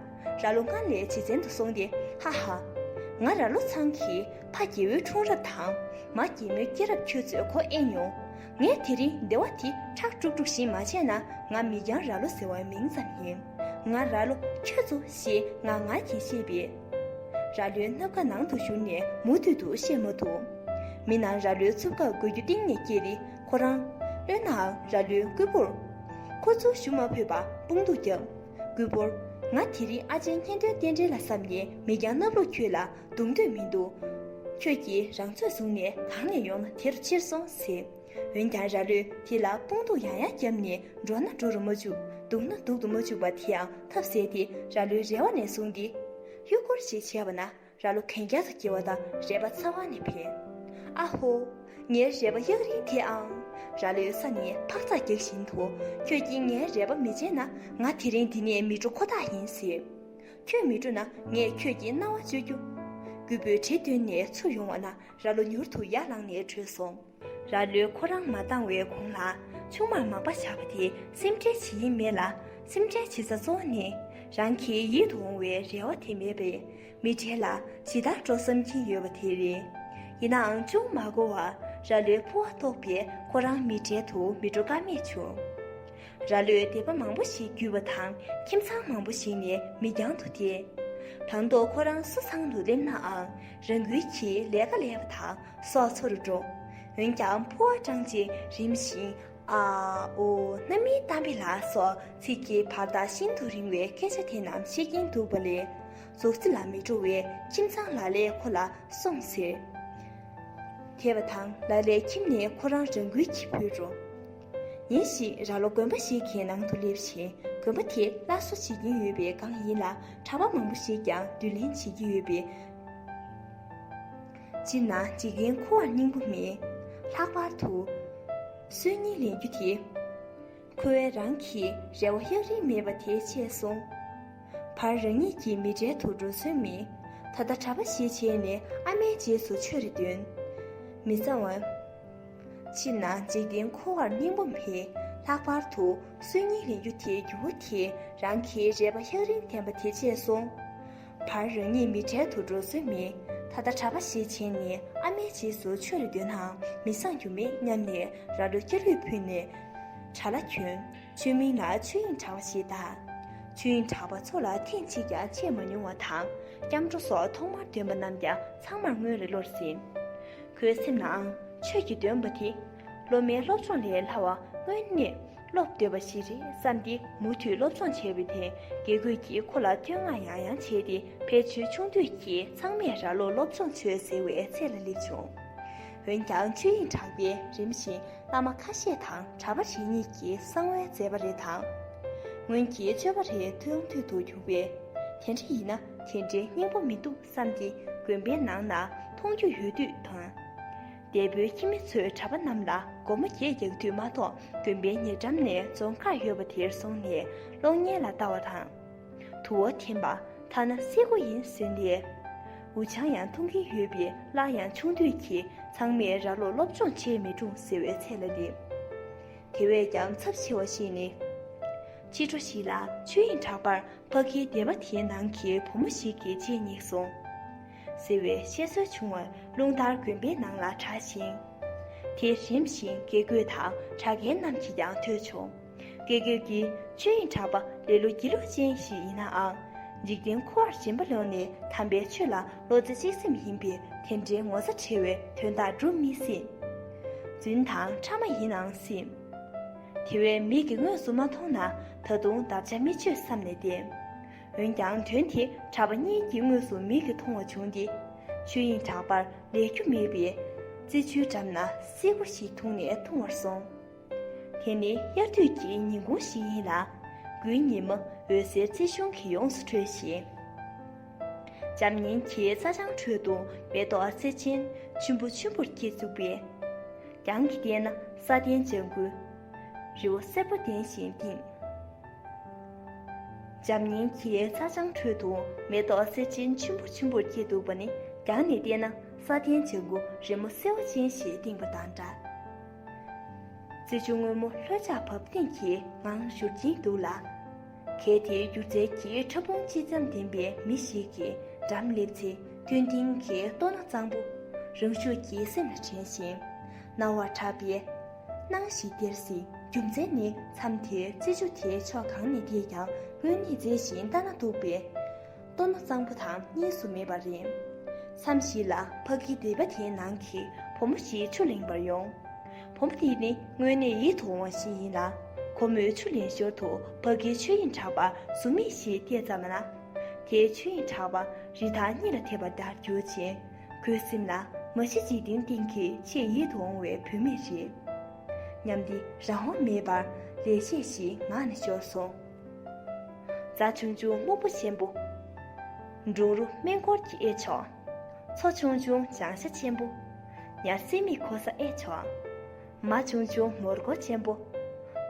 ར་ལོ་སྔར་ལས་ཇེ་བཙན་དུ་སོང་སྟེ་ཧ་ཧ། ང་ར་ལོ་ཚང་གི་ཕ་རྒྱལ་བོའི་འཁྲུངས་རབས་དང་མ་རྒྱལ་མོའི་སྐྱེས་རབས་ཁྱོད་ཚོས་གོ་ཨེ་མྱོང། ངས་དེ་རིང་སྡེ་བ་དེ་ཁྲག་དཀྲུག་དཀྲུག་བཞིན་མ་བྱས་ན་ང་མི་རྒྱང་ར་ལོ་ཟེར་བ་མིང་ཙམ་ཡིན། ང་ར་ལོ་ཁྱོད་ཚོ་ཞེས་ངག་ངར་གྱིས་བཤད་པས། ར་ལོའི་སྣབས་ཁ་ནང་དུ་བཞུར་ནས་མུ་མཐུད་དུ་བཤད་མ་ཐུབ། མི་རྣམས་ར་ལོའི་འཚུབ་ཁ་འགུལ་རྒྱུ་གཏིང་ནས་སྐྱེས་ཏེ་ཁོ་རང། བློན་ནའང་ར་ལོའི་རྐུན་པོར། ཁོ་ཚོ་ཞུ་མ་ཕོད་པར་དཔུང་སྡུག་བརྒྱབ། རྐུན་པོར། ང་དེ་རིང་ཨ་ཅེ་གཉེན་སྟོན་རྟེན་འབྲེལ་ལ་བསམ་ནས་མི་རྒྱང་སྣབས་ལོ་ཁྱོད་ལ་འདུག་འདོད་མི་འདུག། ཁྱོད་ཀྱིས་རང་ཚོད་བཟུང་ནས་གང་ནས་ཡོང་ན་དེར་ཕྱིར་སོང་ཟེར། འོན་ཀྱང་ར་ལོས་དེ་ལ་དཔུང་རྡུག་ཡང་ཡང་བརྒྱབ་ནས་འགྲོ་ན་འགྲོ་རུ་མ་བཅུག་འདུག་ན་འདུག་ཏུ་མ་བཅུག་པ་དེའང་ཐབས་ཟད་དེ་ར་ལོའི་རེ་བ་ནས་བཟུང་སྟེ། གཡུ་སྐོར་ཞིག་བྱས་པ་ན་ར་ལོ་གན་རྒྱ་དུ་སྐྱེལ་བ་དང་རས་པ་ཚ་བ་ནས་འཕེན། ཨ་ཧོ། ངའི་རས་པ་གཡག་རིང་དེ་ཨང། ར་ལོའི་ས་ནས་འཕག་འཚག་རྒྱག་བཞིན་དུ། ཁྱོད་ཀྱིས་ངའི་རས་པ་མི་བརྗེད་ན་ང་དེ་རིང་འདི་ནས་མི་འགྲོ་ཁོ་ཐག་ཡིན་ཟེར། ཁྱོད་མི་འགྲོ་ན་ངས་ཁྱོད་ཀྱི་རྣ་བ་གཅོད་རྒྱུ། རྒུད་པོས་གྲི་འདོན་ནས་ཚུར་ཡོང་བ་ན་རྭ་ལོ་མྱུར་དུ་ཡར་ལངས་ནས་བྲོས་སོང། རྭ་ལོས་ཁོ་རང་མ་བཏང་བའི་གོང་ལ་ཆུང་མར་མག་པ་བྱ་བ་དེ་སེམས་ཁྲལ་བྱེད་ཡིན་མེད་ལ་སེམས་ཁྲལ་བྱེད་ས་གཙོ་བོ་ནི་རང་གི་ཡིད་དུ་འོང་བའི་རེ་བ་དེ་མེད་པས་མི་གྲལ་ལ་ཇི་ལྟར་འགྲོ་བསམ་གྱིན་ཡོད་པ་དེ་རེད། ཡིན་ནའང་ཅུང་མ་འགོར་བར་རྭ་ལོའི་ཕུ་བ་ལྟོགས་པས་ཁོ་རང་མི་གྲལ་དུ་མི་འགྲོ་ཀ་མེད་བྱུང། ར་ལོའི་སྡེ་པ་མང་པོ་ཞིག་བརྒྱུད་པ་དང་ཁྱིམ་ཚང་མང་པོ་ཞིག་ནས་མི་རྒྱང་དུ་བསྡད། དང་ཐོག་ཁོ་རང་སུ་ཚང་དུ་སླེབས་ནའང་རང་འགུལ་གྱིས་ལས་ཀ་ལས་པ་དང་སོགས་འཚོ་རུ་འགྲོ། འོན་ཀྱང་ཕོ་བ་སྐྲངས་རྗེས་རིམ་བཞིན་ཨ། ཨོ། གནའ་མིའི་གཏམ་དཔེ་ལ་སོགས་ཚིག་གི་བར་ཐག་ཤིན་ཏུ་རིང་བའི་སྐད་ཆ་དེ་རྣམས་བཤད་ཀྱིན་འདུག་པ་ལས་རྫོགས་རྩི་ལ་མི་འགྲོ་བས་ཁྱིམ་ཚང་ལ་ལས་ཁོ་ལ་སོང་ཟེར། དེ་བ་དང་ལ་ལས་ཁྱིམ་ནས་ཁོ་རང་རང་འགུལ་གྱིས་བུད་འགྲོ། ཉིན་ཞིག་རྭ་ལོ་དགོན་པ་ཞིག་གི་ནང་དུ་སླེབས་ཤིང་དགོན་པ་དེ་སླར་གསོ་བྱེད་ཀྱིན་ཡོད་པའི་སྒང་ཡིན་ལ་གྲྭ་པ་མང་པོ་ཞིག་ཀྱང་སྡུད་ལེན་བྱེད་ཀྱི་ཡོད་པས། སྤྱིར་ན་འཇིག་རྟེན་འཁོར་བར་སྙིང་པོ་མེད། ལྷག་པར་དུ། སྲོལ་གཉིས་ལེན་རྒྱུ་དེ། ཁོ་བོའི་རང་གི་རེ་བ་གཡག་རིང་མེད་པ་དེ་ཆད་སོང། བར་རང་ཉིད་ཀྱི་མི་གྲལ་དུ་འགྲོ་སྲོལ་མེད། ད་ལྟ་གྲྭ་པ་ཞིག་བྱས་ནས་ཨ་མའི་རྗེས་སུ་ཆོས་རེ་འདོན། མི་ཚང་བ། ཕྱི་ནང་འཇིག་རྟེན་འཁོར་བར་སྙིང་པོ་མེད། ལྷག་པར་དུ་སྲོལ་རྙིང་རིག་རྒྱུ་དེའི་འགྱུར་བ་དེས་རང་གི་རེ་བ་ཧེག་རིང་ལྡན་པ་དེ་བརྗེད་སོང། བར་རང་ཉིད་མི་གྲལ་དུ་འགྲོ་སྲོལ་མེད། ད་ལྟ་གྲྭ་པ་ཞིག་བྱས་ནས་ཨ་མའི་རྗེས་སུ་ཆོས་རེ་འདོན་ནའང་མི་བཟང་རྒྱུ་མེད་སྙམ་ནས་ར་ལོ་སྐྱ་ལུད་ཕུད་ནས་གྲྭ་ལ་གྱོན། ཆོས་མིང་ལ་ཆོས་དབྱིངས་གྲགས་པ་ཞེས་བཏགས། ཆོས་དབྱིངས་གྲགས་པ་མཚོ་ལ་ཐེངས་གཅིག་ཀྱང་ཆས་མ་མྱོང་བ་དང་སྐྱབས་འགྲོ་སོགས་ཐོག་མར་འདོན་པ་རྣམས་ཀྱང་ཚང་མར་སྔོན་རེ་བློར་ཟིན། ཁོའི་སེམས་ནའང་ཆོས་ཀྱི་འདོན་པ་དེ་སློབ་མའི་སློབ་སྦྱོང་ལས་སླ་བ་དངོས་གནས་སློབ་འདོད་པ་ཞིག་རེད་བསམ་སྟེ་མུ་མཐུད་སློབ་སྦྱོང་བྱས་པའི་ཐན་དགེ་ཁོད་ཀྱིས་ཁོ་ལ་བསྟོད་བསྔགས་ཡང་ཡང་བྱས་ཏེ་ཕལ་ཆེར་ཆུང་དུས་ཀྱི་ཚང་མས་ར་ལོ་སློབ་སྦྱོང་བྱོས་ཟེར་བའི་ཚད་ལ་སླེབས་བྱུང། འོན་ཀྱང་ཆོས་དབྱིངས་གྲགས་པས་རིམ་བཞིན་བླ་མ་ཁ་ཤས་དང་གྲྭ་པ་རེ་གཉིས་ཀྱི་གསང་བའི་མཛད་པ་རེ་དང། སྔོན་གྱི་སྤྱོད་པ་རེ་མཐོང་ཐོས་དུ་གྱུར་པས། དེ་འདྲ་ཡིན་ན་དེ་འདྲའི་སྙིང་པོ་མི་འདུག། བསམ་གྱིས་དགོན་པའི་ནང་ན་མཐོང་རྒྱུ་ཡོད་དུས་དང། འདས་པོའི་ཁྱིམ་མི་ཚོའི་གྲྭ་པ་རྣམས་ལ་སྒོར་མོ་བརྒྱད་རྒྱག་དུས་མ་གཏོགས་དགོན་པའི་ཉེ་འགྲམ་ནས་རྫོང་ཁ་ཡོད་པ་དེར་སོང་ནས་གློག་བརྙན་ལ་ལྟ་བ་དང། དུ་བ་འཐེན་པ་ཐ་ན་སེ་གོ་ཡིན་ཟེར་ནས། འུ་ཆང་ཡང་འཐུང་གིན་ཡོད་པས་སླར་ཡང་ཆུང་དུས་ཀྱི་ཚང་མས་ར་ལོ་སློབ་སྦྱོང་བྱས་མི་འཁྲུངས་ཟེར་བའི་ཚད་ལ་ནི། དེ་བས་ཀྱང་ཚབས་ཆེ་བ་ཞིག་ནི། ཕྱི་དྲོ་ཞིག་ལ་ཆོས་དབྱིངས་གྲགས་པར་ཕ་གིའི་སྡེ་བ་དེའི་ནང་གི་བུ་མོ་ཞིག་གི་ལྕེ་བསྙེགས་སོང། ཟེར་བའི་བཤད་སྲོལ་བྱུང་བ་རླུང་ལྟར་དགོན་པའི་ནང་ལ་གྲགས་ཤིང། དེ་རིམ་བཞིན་དགེ་སྐོས་དང་གྲྭ་རྒན་རྣམས་ཀྱིས་ཀྱང་ཐོས་བྱུང། དགེ་སྐོས་ཀྱིས་ཆོས་དབྱིངས་གྲགས་པ་ལེ་ལོ་སྒྱིད་ལུག་ཅན་ཞིག་ཡིན་ནའང། འཇིག་རྟེན་འཁོར་བར་རྗེན་པ་ལོན་ནས་དམ་པའི་ཆོས་ལ། བློ་རྩེ་གཅིག་སེམས་ཡིན་པས་དེ་འདྲའི་ངོ་ཚ་ཁྲེལ་བའི་དོན་དག་འགྲུབ་མི་སྲིད། རྫུན་དང་ཕྲ་མ་ཡིན་ཨང་སྲིད། དེ་བས་མིག་གིས་དངོས་སུ་མ་མཐོང་ན་ད་དུང་འདབ་ཆགས་མི་ཆོད་བསམ་ནས་བསྡད། འོན་ཀྱང་དོན་དེ་གྲྭ་པ་གཉིས་ཀྱིས་དངོས་སུ་མིག་གིས་མཐོང་བ་བྱུང་སྟེ། ཆོས་དབྱིངས་གྲགས་པར་ལས་རྒྱུ་མེད་པས། རྩེ་ཆུའི་འགྲམ་ན་སིལ་བུ་ཞིག་འཐུང་ནས་འཐུང་བར་སོང། དེ་ནི་དབྱར་དུས་ཀྱི་ཉིན་གུང་ཞིག་ཡིན་ལ། དགུན་ཉི་མ་འོད་ཟེར་རྩེ་གཞུང་གིས་ཡོངས་སུ་འཕྲོས་ཤིང། འཇམ་མཉེན་གྱི་རྩྭ་ལྗང་ཁྲོད་དུ་མེ་ཏོག་རྩེ་ཆེན་ཆུན་པོ་ཆུན་པོར་སྐྱེས་བཅུག་པས། གྱང་གི་སྟེང་ན་ས་གདན་ལྗང་གུ་རི་བོ་སེར་པོ་ལྡན་ཞིང་བཏིང། འཇམ་མཉེན་གྱི་རྩྭ་ལྗང་ཁྲོད་དུ་མེ་ཏོག་རྩེ་ཆེན་ཆུན་པོ་ཆུན་པོར་སྐྱེས་འདུག་པ་ནི་གྱང་ནས་བལྟས་ན་ས་གདན་ལྗང་གུ་རི་མོ་སེར་བ་ཅན་ཞིག་བཏིང་བ་དང་འདྲ། རྩེ་ཆུ་སྔོན་མོ་ལྷོད་ཆགས་བབ་བརྟན་གྱི་ངང་བཞུར་གྱིན་འདུག་ལ། གལ་ཏེ་སྒྱུ་རྩལ་གྱི་ཕྲ་ཕུང་སྤྱི་ཙམ་ལྡན་པའི་མི་ཞིག་གིས་འགྲམ་བསླེབས་ཚེ་མཐོན་མཐིང་གི་ལྟོ་ན་གཙང་པོ། རང་ཤུགས་ཀྱིས་སེམས་ལ་དྲན་ཞིང་རྣ་བར་གྲགས་པའི་སྣང་ཞིག་སྟེར་སྲིད། རྒྱུ་མཚན་ནི་མཚམས་དེར་རྩེ་ཆུ་དེའི་ཕྱོགས་གང་ནས་བལྟས་ཀྱང་དངོས་གནས་མཛེས་ཤིང་ལྟ་ན་སྡུག་པའི། ལྟོ་ན་གཙང་པོ་དང་གཉིས་སུ་མེད་པ་རེད། མཚམས་ཤིག་ལ་ཕ་གིའི་སྡེ་པ་དེའི་ནང་གི་བུ་མོ་ཞིག་ཆུ་ལེན་པར་ཡོང། བུ་མོ་དེ་ནི་དངོས་གནས་ཡིད་དུ་འོང་བ་ཞིག་ཡིན་ལ། ཁོ་མོས་ཆུ་ལེན་ཞོར་དུ་ཕ་གིའི་ཆོས་དབྱིངས་གྲགས་པ་གཟུགས་མེད་ཞིག་བལྟས་ཙམ་ན། དེའི་ཆོས་དབྱིངས་གྲགས་པ་རི་ཐང་གཉིས་ལ་ཐེབས་པ་ལྟར་གྱུར་ཅིང། ཁོའི་སེམས་ལ་མ་གཞི་འཇིག་རྟེན་སྟེང་གི་ཆེས་ཡིད་དུ་འོང་བའི་བུད་མེད་རེད་སྙམ་སྟེ་རང་དབང་མེད་པར་ལས་བྱེད་བཞིན་ངང་ནས་ཤོར་སོང། རྫ་ཆུང་ཆུང་སྨུག་པོ་ཆེན་པོ། འབྲུག་རུ་སྨན་འཁོར་གྱི་ཨེ་ཆོག། མཚོ་ཆུང་ཆུང་བྱང་ཤ་ཆེན་པོ། ཉར་སྲིན་མི་ཁོ་ས་ཨེ་ཆོག། མ་ཆུང་ཆུང་ངོར་སྒོ་ཆེན་པོ།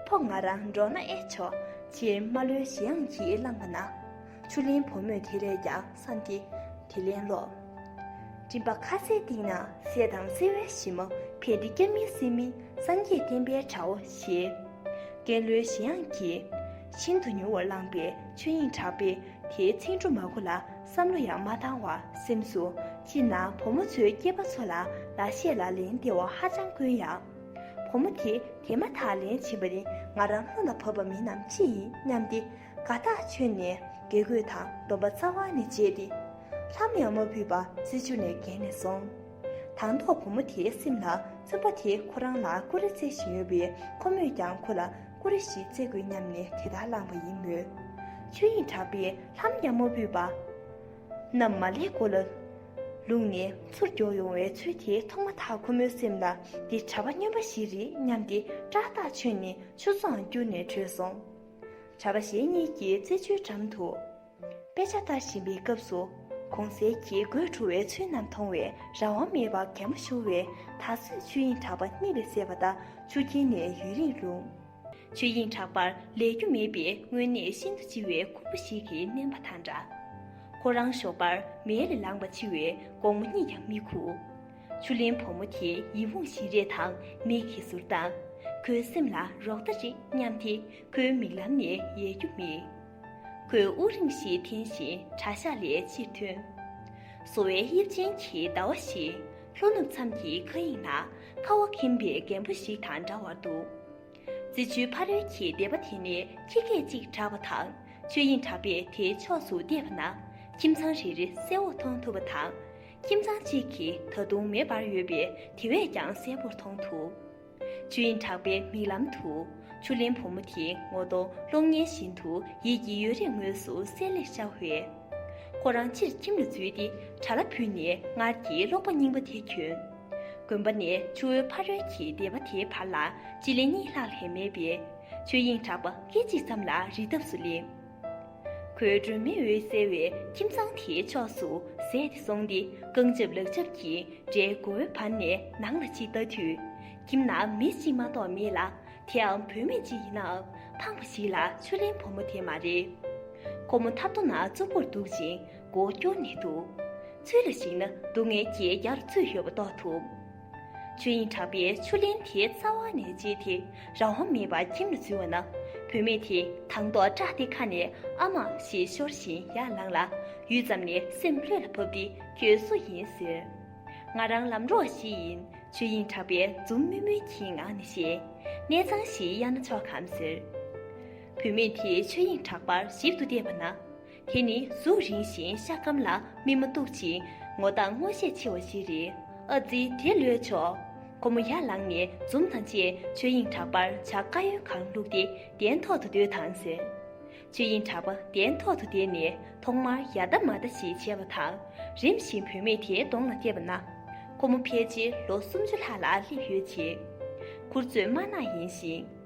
ཕོ་ང་རང་འབྲོག་ན་ཨེ་ཆོག། ཕྱིར་རྨ་ལོའི་གཞི་ཡང་གྱིས་བླངས་པ་ན། ཆུ་ལིན་བུ་མོས་དེ་རེས་ཀྱང། སངས་ཏེ། དེ་ལན་ལོག། མགྲིན་པ་ཁ་ཟས་སྟེང་ན་ཟས་དང་བསྲེ་བའི་གཞི་མ་བས་འདི་སྐྱབས་མིན་སེམས་མིན་སངས་རྒྱས་བསྟན་པའི་གྲའོ་ཞེས། ཀན་ལྷོའི་གཞན་དབྱངས་ཀྱིས། ཤིན་ཏུ་མྱུར་བར་བླངས་པའི་ཆོས་དབྱིངས་གྲགས་པས་དེའི་ཚིག་འབྲུ་མ་གོ་ལ་བསམ་བློ་ཡང་མ་བཏང་བར་སེམས་སོ། སྤྱིར་ན་བུ་མོ་ཚོའི་སྐྱེས་པ་ཚོ་ལ་ལ་ཤས་ལ་ལན་བདེ་བ་ཧ་ཅང་དཀོན་ཡང། བུ་མོ་དེ་དེ་མ་ཐག་ལན་བྱིན་པ་ནི་ང་རང་བློ་ལ་བབས་པ་མིན་ནམ་ཅི་ཡིན་སྙམ་སྟེ། དགའ་རྟགས་མཆོད་ནས་དགེ་སྐོས་དང་སྡོམ་པ་རྩ་བ་ནས་བཅད་དེ། ལྷ་མོ་ཡང་མ་བུས་པ་རྩི་བཅུ་ནས་བརྒྱན་ནས་སོང། དང་ཐོག་བུ་མོ་དེའི་སེམས་ལ་བཙུན་པ་དེ་ཁོ་རང་ལ་ཀུ་རེ་རྩེ་བཞིན་ཡོད་པས་ཁོ་མོས་ཀྱང་ཁོ་ལ་ཀུ་རེ་ཞིག་རྩེ་དགོས་སྙམ་ནས་དེ་ལྟར་བླངས་པ་ཡིན་མོད། ཆོས་དབྱིངས་གྲགས་པས་ལྷ་མོ་ཡང་མ་བུས་པ་རྣམས་མ་ལེགས་སྐོར་ལ་ལུང་ནས་ཚུར་མགྱོགས་ཡོང་བའི་ཚུལ་དེ་མཐོང་མ་ཐག་ཁོ་མོའི་སེམས་ལ་འདི་གྲྭ་པ་སྨྱོན་པ་ཞིག་རེད་སྙམ་སྟེ་སྐྲག་རྟགས་མཆོད་ནས་ཆུ་ཚོའང་བསྐྱུར་ནས་བྲོས་སོང། གྲྭ་པ་གཞན་གཉིས་ཀྱིས་རྩེད་འཇོའི་འགྲམ་དུ་དཔེ་ཆ་ལྟ་བཞིན་པའི་སྐབས་སུ། གོང་གསལ་གྱི་སྒོས་འཁྲུ་བའི་ཚུལ་རྣམས་མཐོང་བས་རང་དབང་མེད་པར་གད་མོ་ཤོར་བས་ད་གཟོད་ཆོས་དབྱིངས་གྲགས་པ་གཉིད་ལས་སད་པ་ལྟར་ཆུ་སྐྱེས་ནས་ཡུན་རིང་ལྷུང། ཆོས་དབྱིངས་གྲགས་པར་ལས་རྒྱུ་མེད་པའི་དངོས་གནས་ཤིན་ཏུ་ལྕི་བའི་ཁུར་པོ་ཞིག་གིས་མནན་པ་དང་འདྲ། ཁོ་རང་ཞོགས་པར་མལ་ལས་ལངས་པ་འཕྱི་བས་དགོང་མོ་གཉིད་ཀྱང་མི་ཁུགས། ཆུ་ལེན་བུ་མོ་དེ་ཡིད་འོང་བཞིན་རས་དང་མིག་གིས་ཟུར་ལྡང། ཁོའི་སེམས་ལ་རོགས་ཟླ་རེ་སྙམ་དེ་ཁོའི་མིག་ལམ་ནས་ཡལ་རྒྱུ་མིན། ཁོས་དབུགས་རིང་ཞིག་འཐེན་བཞིན་གྲྭ་ཤག་ལས་ཕྱིར་ཐོན། སོ་བའི་དབྱིབས་ཅན་གྱི་ཟླ་བ་ཞིག་ལྷོ་ནུབ་མཚམས་ཀྱི་མཁའ་དབྱིངས་ན་ཁ་བ་གིམ་པའི་རྒན་པོ་ཞིག་དང་འདྲ་བར་འདུག། རྩི་ཆུའི་ཕ་རོལ་གྱི་སྡེ་པ་དེ་ནས་ཁྱི་སྐད་ཅིག་གྲགས་པ་དང་ཆོས་དབྱིངས་གྲགས་པས་དེའི་ཕྱོགས་སུ་བལྟས་པ་ན་ཁྱིམ་ཚང་རེ་རེ་གསལ་བོར་མཐོང་ཐུབ་པ་དང། ཁྱིམ་ཚང་གཅིག་གིས་ད་དུང་མེད་པར་ཡོད་པས་དེ་བས་ཀྱང་གསལ་བོར་མཐོང་ཐུབ། ཆུ་དབྱིངས་གྲགས་པའི་མིག་ལམ་དུ། ཆུ་ལེན་བུ་མོ་དེའི་ངོ་གདོང་གློག་བརྙན་བཞིན་དུ་ཡིད་ཀྱི་ཡོལ་རས་ངོས་སུ་གསལ་ལེར་ཤར་བས། ཁོ་རང་ཕྱིར་ཁྱིམ་ལ་འཛུལ་ཏེ་གྲྭ་ལ་བུད་ནས་སྔར་གྱི་ཀློག་པ་རྙིང་པ་དེ་གྱོན། དགོན་པ་ནས་ཆུ་བོའི་ཕ་རོལ་གྱི་སྡེ་བ་དེའི་བར་ལ་སྤྱི་ལེ་གཉིས་ལྷག་ལྷན་མེད་པས། ཆུ་དབྱིངས་གྲགས་པ་སྐད་ཅིག་ཙམ་ལ་རི་འདབས་སུ་སླེབས། ཁོའི་སྒྲོན་མེ་འོད་གསལ་བའི་ཁྱིམ་ཚང་དེའི་ཕྱོགས་སུ་གཟས་ཏེ་སོང་སྟེ་རྐང་རྒྱབ་ལག་རྒྱབ་ཀྱིས་སྒྲའི་མགོའི་བར་ནས་ནང་ལ་ཅིག་བལྟ་དུས། ཁྱིམ་ན་མི་གཅིག་མ་གཏོགས་མེད་ལ་དེའང་བུད་མེད་ཅིག་ཡིན་ནའང་ཕངས་པ་ཞིག་ལ་ཆུ་ལེན་བུ་མོ་དེ་མ་རེད། ཁོ་མོ་ཐབ་རྡོ་ན་ཙོག་པུར་འདུག་ཅིང་མགོ་སྐྱོར་ནས་འདུག་ཚུལ་ལ་གཞིགས་ན་སྡུག་བསྔལ་གྱི་ཡར་ཚུད་ཡོད་པ་རྟོགས་ཐུབ། ཆོས་དབྱིངས་གྲགས་པས་ཆུ་ལེན་དེའི་རྩ་བ་ནས་བཅད་དེ་རང་དབང་མེད་པར་ཁྱིམ་ལ་འཛུལ་བ་ན། བུད་མེད་དེས་དང་ཐོག་སྐྲག་སྟེ་ཁ་ནས་ཨ་མ་ཞེས་ཤོར་བཞིན་ཡར་ལངས་ལ། ཡུད་ཙམ་ནས་སེམས་ལྷོད་ལ་བབས་ཏེ་ཁྱོད་སུ་ཡིན་ཟེར། ང་རང་ལམ་འགྲོ་ཞིག་ཡིན་ཆོས་དབྱིངས་གྲགས་པས་འཛུམ་དམུལ་དམུལ་གྱི་ངང་ནས་བཤད། གནས་ཚང་ཞིག་གཡར་ན་ཆོག་གམ་ཟེར། བུད་མེད་དེས་ཆོས་དབྱིངས་གྲགས་པར་ཞིབ་ཏུ་བལྟས་པ་ན། དེ་ནི་གཟུགས་རིང་ཞིང་ཤ་སྐམ་ལ་སྨིན་མ་སྟུག་ཅིང་ངོ་དང་ངོ་ཤེས་ཆེ་བ་ཞིག་རེད། ཨ་ཙི་དེ་ལོས་ཆོག། ཁོ་མོ་ཡར་ལངས་ནས་འཛུམ་དང་བཅས་ཆོས་དབྱིངས་གྲགས་པར་ཇག་དཀར་ཡོལ་གང་བླུགས་ཏེ་གདན་ཐོག་ཏུ་སྡོད་དང་ཟེར། ཆོས་དབྱིངས་གྲགས་པ་གདན་ཐོག་ཏུ་བསྡད་ནས་ཐོག་མར་ཡ་ལྟ་མ་ལྟ་ཞིག་བྱས་པ་དང་རིམ་བཞིན་བུད་མེད་དེའི་གདོང་ལ་བལྟས་པ་ན། ཁོ་མོ་ཕལ་ཆེར་ལོ་སུམ་ཅུ་ལྷག་ལ་སླེབས་ཡོད་ཅིང། མཁུར་ཚོས་དམར་ནག་ཡིན་ཞིང།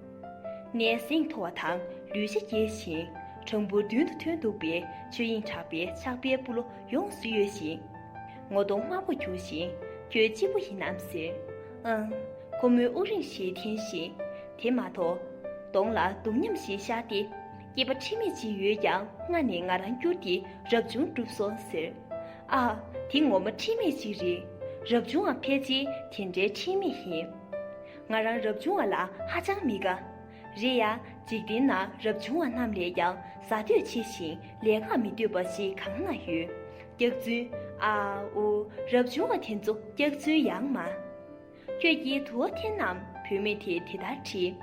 ནས་ཟིང་འཐོར་བ་དང་ལུས་ཤེད་སྐྱེ་ཞིང་གྲངས་འབོར་བདུན་དུ་ཐོན་འདུག་པས་ཆོས་དབྱིངས་གྲགས་པའི་ཕྱག་དཔེ་སྤུ་ལོ་ཡོངས་སུ་གཡོས་ཤིང། ངོ་གདོང་དམར་པོར་གྱུར་ཞིང་ཁྱོད་གཅིག་པུ་ཡིན་ནམ་ཟེར། ཨང། ཁོ་མོས་དབུགས་རིང་ཞིག་འཐེན་ཞིང། དེ་མ་གཏོགས། གདོང་ལ་སྡུག་མཉམ་ཞིག་ཤར་ཏེ། སྐྱེས་པ་ཁྲིམས་མེད་ཅིག་ཡོད་ཀྱང་སྔ་ནས་ང་རང་བསྐྱུར་ཏེ་རབ་བྱུང་བསྒྲུབས་སོང་ཟེར། ཨ། དེ་ངོ་མ་ཁྲིམས་མེད་ཅིག་རེད། རབ་བྱུང་འང་ཕལ་ཆེར་དེ་འདྲའི་ཁྲིམས་མེད་ཡིན། ང་རང་རབ་བྱུང་བ་ལ་ཧ་ཅང་མི་དགའ། རེད་ཡ། འཇིག་རྟེན་ན་རབ་བྱུང་བ་རྣམས་ལས་ཀྱང་ཟ་འདོད་ཆེ་ཞིང་ལས་ཀ་མི་འདོད་པ་ཞིག་གང་ན་ཡོད། སྐྱག་རྫུན། ཨ། འུ། རབ་བྱུང་བ་དེ་ཚོ་སྐྱག་རྫུན་ཡང་མ། ཁྱོད་ཀྱིས་དུ་བ་འཐེན་ནམ་བུད་མེད་དེས་དེ་ལྟར་དྲིས།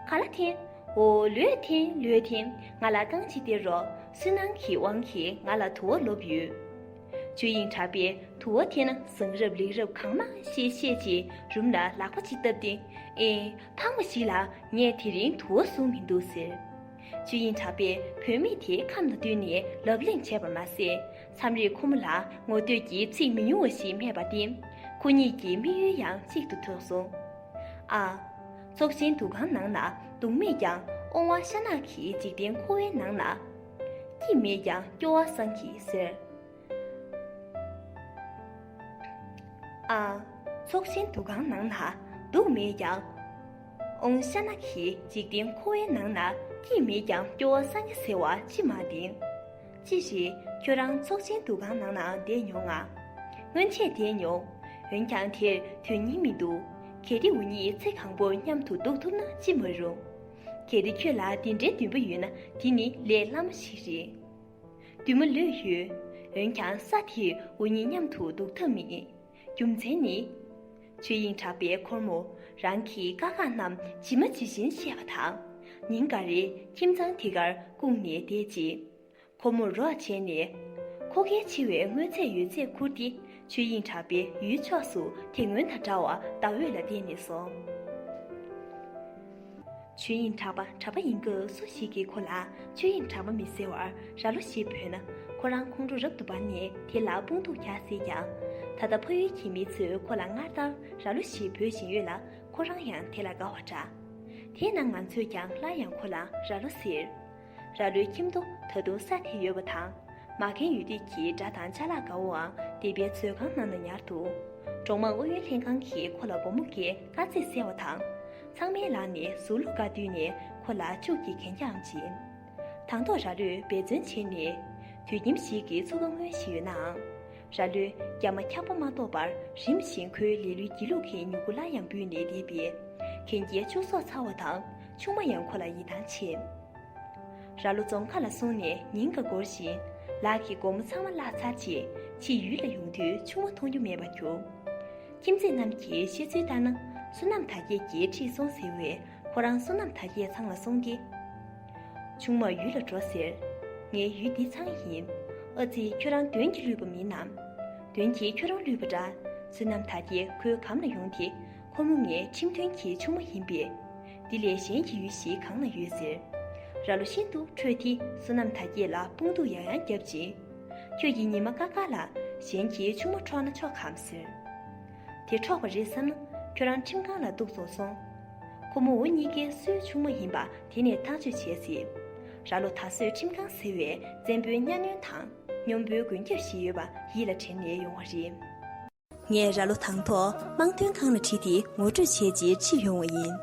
ག་ལ་འཐེན། འོ། ལོས་འཐེན་ལོས་འཐེན་ང་ལ་རྐང་གཅིག་སྟེར་རོགས་སུན་སྣང་གི་དབང་གིས་ང་ལ་དུ་བ་ལོབས་ཡོད། ཆོས་དབྱིངས་གྲགས་པའི་དུ་བ་དེ་ན་བཟང་རབ་ལེགས་རབ་གང་མང་ཤེས་བཤད་ཅིག་རུམ་ལ་ལག་པ་གཅིག་བཏབ་སྟེ། ཨེ། འཕགས་མ་ཞིག་ལ་ངས་དེ་རིང་དུ་བ་བཟུང་མི་འདུག་ཟེར། ཆོས་དབྱིངས་གྲགས་པས་བུད་མེད་དེ་ཁམས་ལ་བསྟུན་ནས་ལབ་གླེང་བྱས་པར་མ་ཟད། མཚམས་རེར་ཁོ་མོ་ལ་ངོ་བསྟོད་ཀྱི་ཚིག་མི་ཉུང་བ་ཞིག་སྨྲས་པ་སྟེ། ཁོ་གཉིས་ཀྱི་དམིགས་ཡུལ་ཡང་གཅིག་ཏུ་ཐོགས་སོང། ཨ། ཚོགས་ཆེན་འདུ་ཁང་ནང་ན་གདུང་མེད་ཀྱང་ཨོང་བ་ཤ་ནག་གིས་འཇིག་རྟེན་འཁོར་བའི་ནང་ན། ཀྱིས་མེད་ཀྱང་སྐྱོ་བ་སངས་ཀྱིས་ཟེར། ཨ། ཚོགས་ཆེན་འདུ་ཁང་ནང་ན་སྡུག་མེད་ཀྱང། ཨོང་ཤ་ན་གྱིས་འཇིག་རྟེན་འཁོར་བའི་ནང་ན་ཀྱིས་མེད་ཀྱང་སྐྱོ་བ་སངས་ཀྱི་ཟེར་བ་ཅི་མ་བདེན། ཅི་ཞིག་ཁྱོད་རང་ཚོགས་ཆེན་འདུ་ཁང་ནང་ན་བསྡད་མྱོང་ང། སྔོན་ཆད་བསྡད་མྱོང། འོན་ཀྱང་དེར་དོན་སྙིང་མི་འདུག་གལ་ཏེ་འུ་གཉིས་ཚེ་གང་པོར་མཉམ་དུ་འདུག་ཐུབ་ན་ཅི་མ་རུང། གལ་ཏེ་ཁྱོད་ལ་འདི་འདྲའི་འདུན་པ་ཡོད་ན་དེ་ནི་ལས་སླ་མོ་ཞིག་རེད། འདུན་མ་ལོས་ཡོད། འོན་ཀྱང་ས་དེ་འུ་གཉིས་མཉམ་དུ་འདུག་ཐབས་མེད། རྒྱུ་མཚན་ནི། ཆོས་དབྱིངས་གྲགས་པའི་ཁོར་མོ། རང་གི་དཀའ་ཁག་རྣམས་ཇི་མ་ཇི་བཞིན་བཤད་པ་དང། ཉིན་འགའ་རེ་ཁྱིམ་ཚང་དེ་གར་བསྐུངས་ནས་བསྡད་རྗེས། ཁོ་མོར་རོགས་བྱས་ནས། ཁོ་ཁའི་འཆི་བའི་སྔོན་ཚད་ཡོད་ཚད་ཁུར་ཏེ་ཆོས་དབྱིངས་གྲགས་པའི་ཡུལ་ཕྱོགས་སུ་དེ་སྔོན་དང་འདྲ་བར་ཟླ་འོད་ལ་བརྟེན་ནས་སོང། ཆོས་དབྱིངས་གྲགས་པ་གྲྭ་པ་ཡིན་སྐབས་སུ་ཞིག་གིས་ཁོ་ལ་ཆོས་དབྱིངས་གྲགས་པ་མི་ཟེར་བར་རྭ་ལོ་ཞེས་བོས་ན། ཁོ་རང་ཁོང་ཁྲོ་རབ་ཏུ་འབར་ནས་དེ་ལ་དཔུང་སྡུག་རྒྱག་སྲིད་ཀྱང། ད་ལྟ་ཕ་ཡུལ་གྱི་མི་ཚོས་ཁོ་ལ་སྔར་ལྟར་རྭ་ལོ་ཞེས་འབོད་བཞིན་ཡོད་ལ་ཁོ་རང་ཡང་དེ་ལ་དགའ་བ་འདྲ། དེས་ན་ང་ཚོས་ཀྱང་སླར་ཡང་ཁོ་ལ་རྭ་ལོ་ཟེར། ར་ལོའི་ཁྱིམ་དུ་ད་དུང་ས་དེ་ཡོད་པ་དང། མ་རྒན་ཡོད་དུས་ཀྱི་སྦྲ་དང་བཅའ་ལག་ག་བོའང་སྡེ་པའི་མཛོད་ཁང་ནང་ན་ཉར་འདུག་འབྲོག་དམངས་ཨུ་ཡོན་ལྷན་ཁང་གིས་ཁོ་ལ་སྒོར་མོ་འགའི་དཀའ་ཚེགས་བསལ་བ་དང། ཚང་མའི་ལག་ནས་ཟུག་གློག་འགའ་བསྡུས་ནས་ཁོ་ལ་ཕྱུགས་ཀྱི་གན་རྒྱའང་སྦྱིན། དང་ཐོག་ར་ལོས་འབད་བརྩོན་བྱས་ནས། དུས་ཁྱིམ་ཞིག་གི་ཚུགས་ཀ་མངོན་བཞིན་ཡོད་ནའང། ར་ལོས་རྒྱ་མ་འཁྱག་པོ་མ་གཏོགས་པར་རིམ་བཞིན་ཁོའི་ལས་ལུས་སྒྱིད་ལུག་གི་མྱུ་གུ་སླར་ཡང་འབུས་ནས་སྡེ་པའི་གན་རྒྱའི་ཕྱུགས་ཟོག་ཚ་བ་དང། ཆུང་མ་ཡང་ཁོ་ལ་ཡིད་ཐང་ཆད། ར་ལོ་རྫོང་ཁ་ལ་སོང་ནས་ཉིན་འགའ་འགོར་བཞིན། ལག་གི་སྒོ་མོ་ཚང་མ་བརླག་ཚར་རྗེས་ཕྱིས་ཡུལ་ལ་ཡོང་དུས་ཆུང་མ་མཐོང་རྒྱུ་མེད་པར་གྱུར། ཁྱིམ་མཚེས་རྣམས་ཀྱིས་བཤད་ཚུལ་ལྟར་ན་བསོད་ནམས་དར་རྒྱས་ཀྱིས་ཁྲིད་སོང་ཟེར་བས་ཁོ་རང་བསོད་ནམས་དར་རྒྱས་ཚང་ལ་སོང་སྟེ། ཆུང་མ་ཡུལ་ལ་འགྲོ་ཟེར། ངའི་ཡུལ་འདི་ཚང་ཡིན། ཨ་ཙི་ཁྱོད་རང་དོན་གྱིས་བསླུས་པ་མིན་ནམ། དོན་གྱིས་ཁྱོད་རང་བསླུས་པ་འདྲ། བསོད་ནམས་དར་རྒྱས་ཁོའི་གམ་ལ་ཡོང་སྟེ། ཁོ་མོ་ངའི་ཁྲིམས་མཐུན་གྱི་ཆུང་མ་ཡིན་པས། འདི་ལས་གཞན་གྱི་ཡུལ་ཞིག་གང་ན་ཡོད་ཟེར། རྭ་ལོ་ཤིན་ཏུ་ཁྲོས་ཏེ་བསོད་ནམས་དར་རྒྱས་ལ་དཔུང་སྡུག་ཡང་ཡང་བརྒྱབ་ཅིང། ཁྱོད་ཀྱིས་ཉི་མ་དཀར་དཀར་ལ་གཞན་གྱི་ཆུང་མ་འཕྲོག་ན་ཆོག་གམ་ཟེར། དེ་འཕྲོག་པ་རེད་བསམ་ན་ཁྱོད་རང་ཁྲིམས་ཁང་ལ་འདུག་བཙོང་སོང། ཁོ་མོ་འུ་གཉིས་ཀའི་སུའི་ཆུང་མ་ཡིན་པ་དེ་ནས་ཐག་གཅོད་བྱས་ཟེར། རྭ་ལོ་ད་གཟོད་ཁྲིམས་ཁང་ཟེར་བའི་བཙན་པོའི་གཉའ་གནོན་དང་གཉོམ་པོའི་མགོན་སྐྱབས་ཤིག་ཡོད་པ་ཡིད་ལ་དྲན་ནས་ཡོང་བ་རེད། ངས་ར་ལོ་དང་ཐོག་དམངས་དོན་ཁང་ལ་ཁྲིད་དེ་ངོ་སྤྲོད་བྱས་རྗེས་ཁྲིད་ཡོང་བ་ཡིན།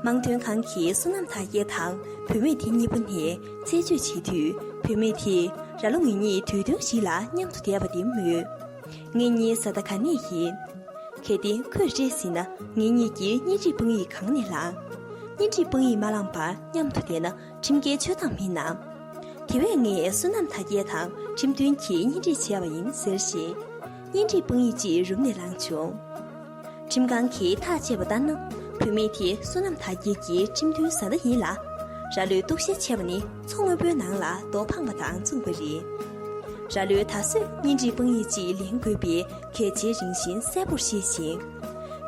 དམངས་དོན་ཁང་གིས་བསོད་ནམས་ཐ་ཡེ་དང་བུད་མེད་དེ་གཉིས་པོ་ནས་རྩད་གཅོད་བྱེད་དུས་བུད་མེད་དེས་ར་ལོ་ངེད་གཉིས་དུས་སྟོན་ཞིག་ལ་མཉམ་དུ་བསྡད་པ་དེ་མོས། ངེད་གཉིས་བཟའ་ཟླ་ག་ནས་ཡིན། གལ་ཏེ་ཁོས་སྤྲད་ཟིན་ན་ངེད་གཉིས་ཀྱིས་གཉེན་སྒྲིག་དཔང་ཡིག་གང་ནས་བླངས། གཉེན་སྒྲིག་དཔང་ཡིག་མ་བླངས་པར་མཉམ་དུ་བསྡད་ན་ཁྲིམས་འགལ་སྤྱོད་སྟངས་མིན་ནམ། དེ་བས་ངས་བསོད་ནམས་དར་རྒྱས་དང་ཁྲིམས་མཐུན་གྱིས་གཉེན་སྒྲིག་བྱས་པ་ཡིན་ཟེར་བཞིན། གཉེན་སྒྲིག་དཔང་ཡིག་ཅིག་རུམ་ནས་བླངས་བྱུང། ཁྲིམས་ཁང་གིས་ཐག་བཅད་པ་ལྟར་ན་བུད་མེད་དེ་བསོད་ནམས་དར་རྒྱས་ཀྱི་ཁྲིམས་མཐུན་བཟའ་ཟླ་ཡིན་ལ། ར་ལོས་གཏུག་བཤེར་བྱས་པ་ནི་མཚོ་སྔོན་པོའི་ནང་ལ་རྡོ་འཕངས་པ་དང་མཚུངས་པ་རེད། ར་ལོས་ད་གཟོད་གཉེན་སྒྲིག་དཔང་ཡིག་ཅིག་ལེན་དགོས་པའི་གལ་ཆེན་རིང་བཞིན་གསལ་པོར་ཤེས་ཤིང།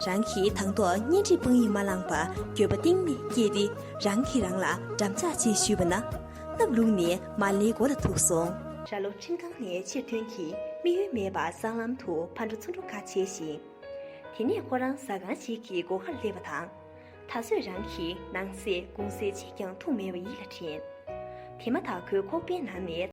རང་གིས་དང་ཐོག་གཉེན་སྒྲིག་དཔང་ཡིག་མ་བླངས་པར་འགྱོད་པ་གཏིང་ནས་སྐྱེས་ཏེ། རང་གིས་རང་ལ་འགྲམ་ལྕག་ཅིག་གཞུས་པ་ན། སྣབས་ལུག་ནི་མ་ལེའི་མགོ་ལ་ཐུག་སོང། ར་ལོ་ཁྲིམས་ཁང་ནས་ཕྱིར་ཐོན་གྱིས་དམིགས་ཡུལ་མེད་པར་སྲང་ལམ་དུ་ཕར་འགྲོ་ཚུར་འགྲོ་ག་བྱས་ཤིང། དེ་ནས་ཁོ་རང་ཟ་ཁང་ཞིག་གི་སྒོ་ཁར་སླེབས་པ་དང། ད་གཟོད་རང་གིས་ནང་ཟས་དགུང་ཟས་གཅིག་ཀྱང་འཐུང་མེད་པ་ཡིད་ལ་དྲན། དེ་མ་ཐག་ཁོའི་ཁོག་པའི་ནང་ནས།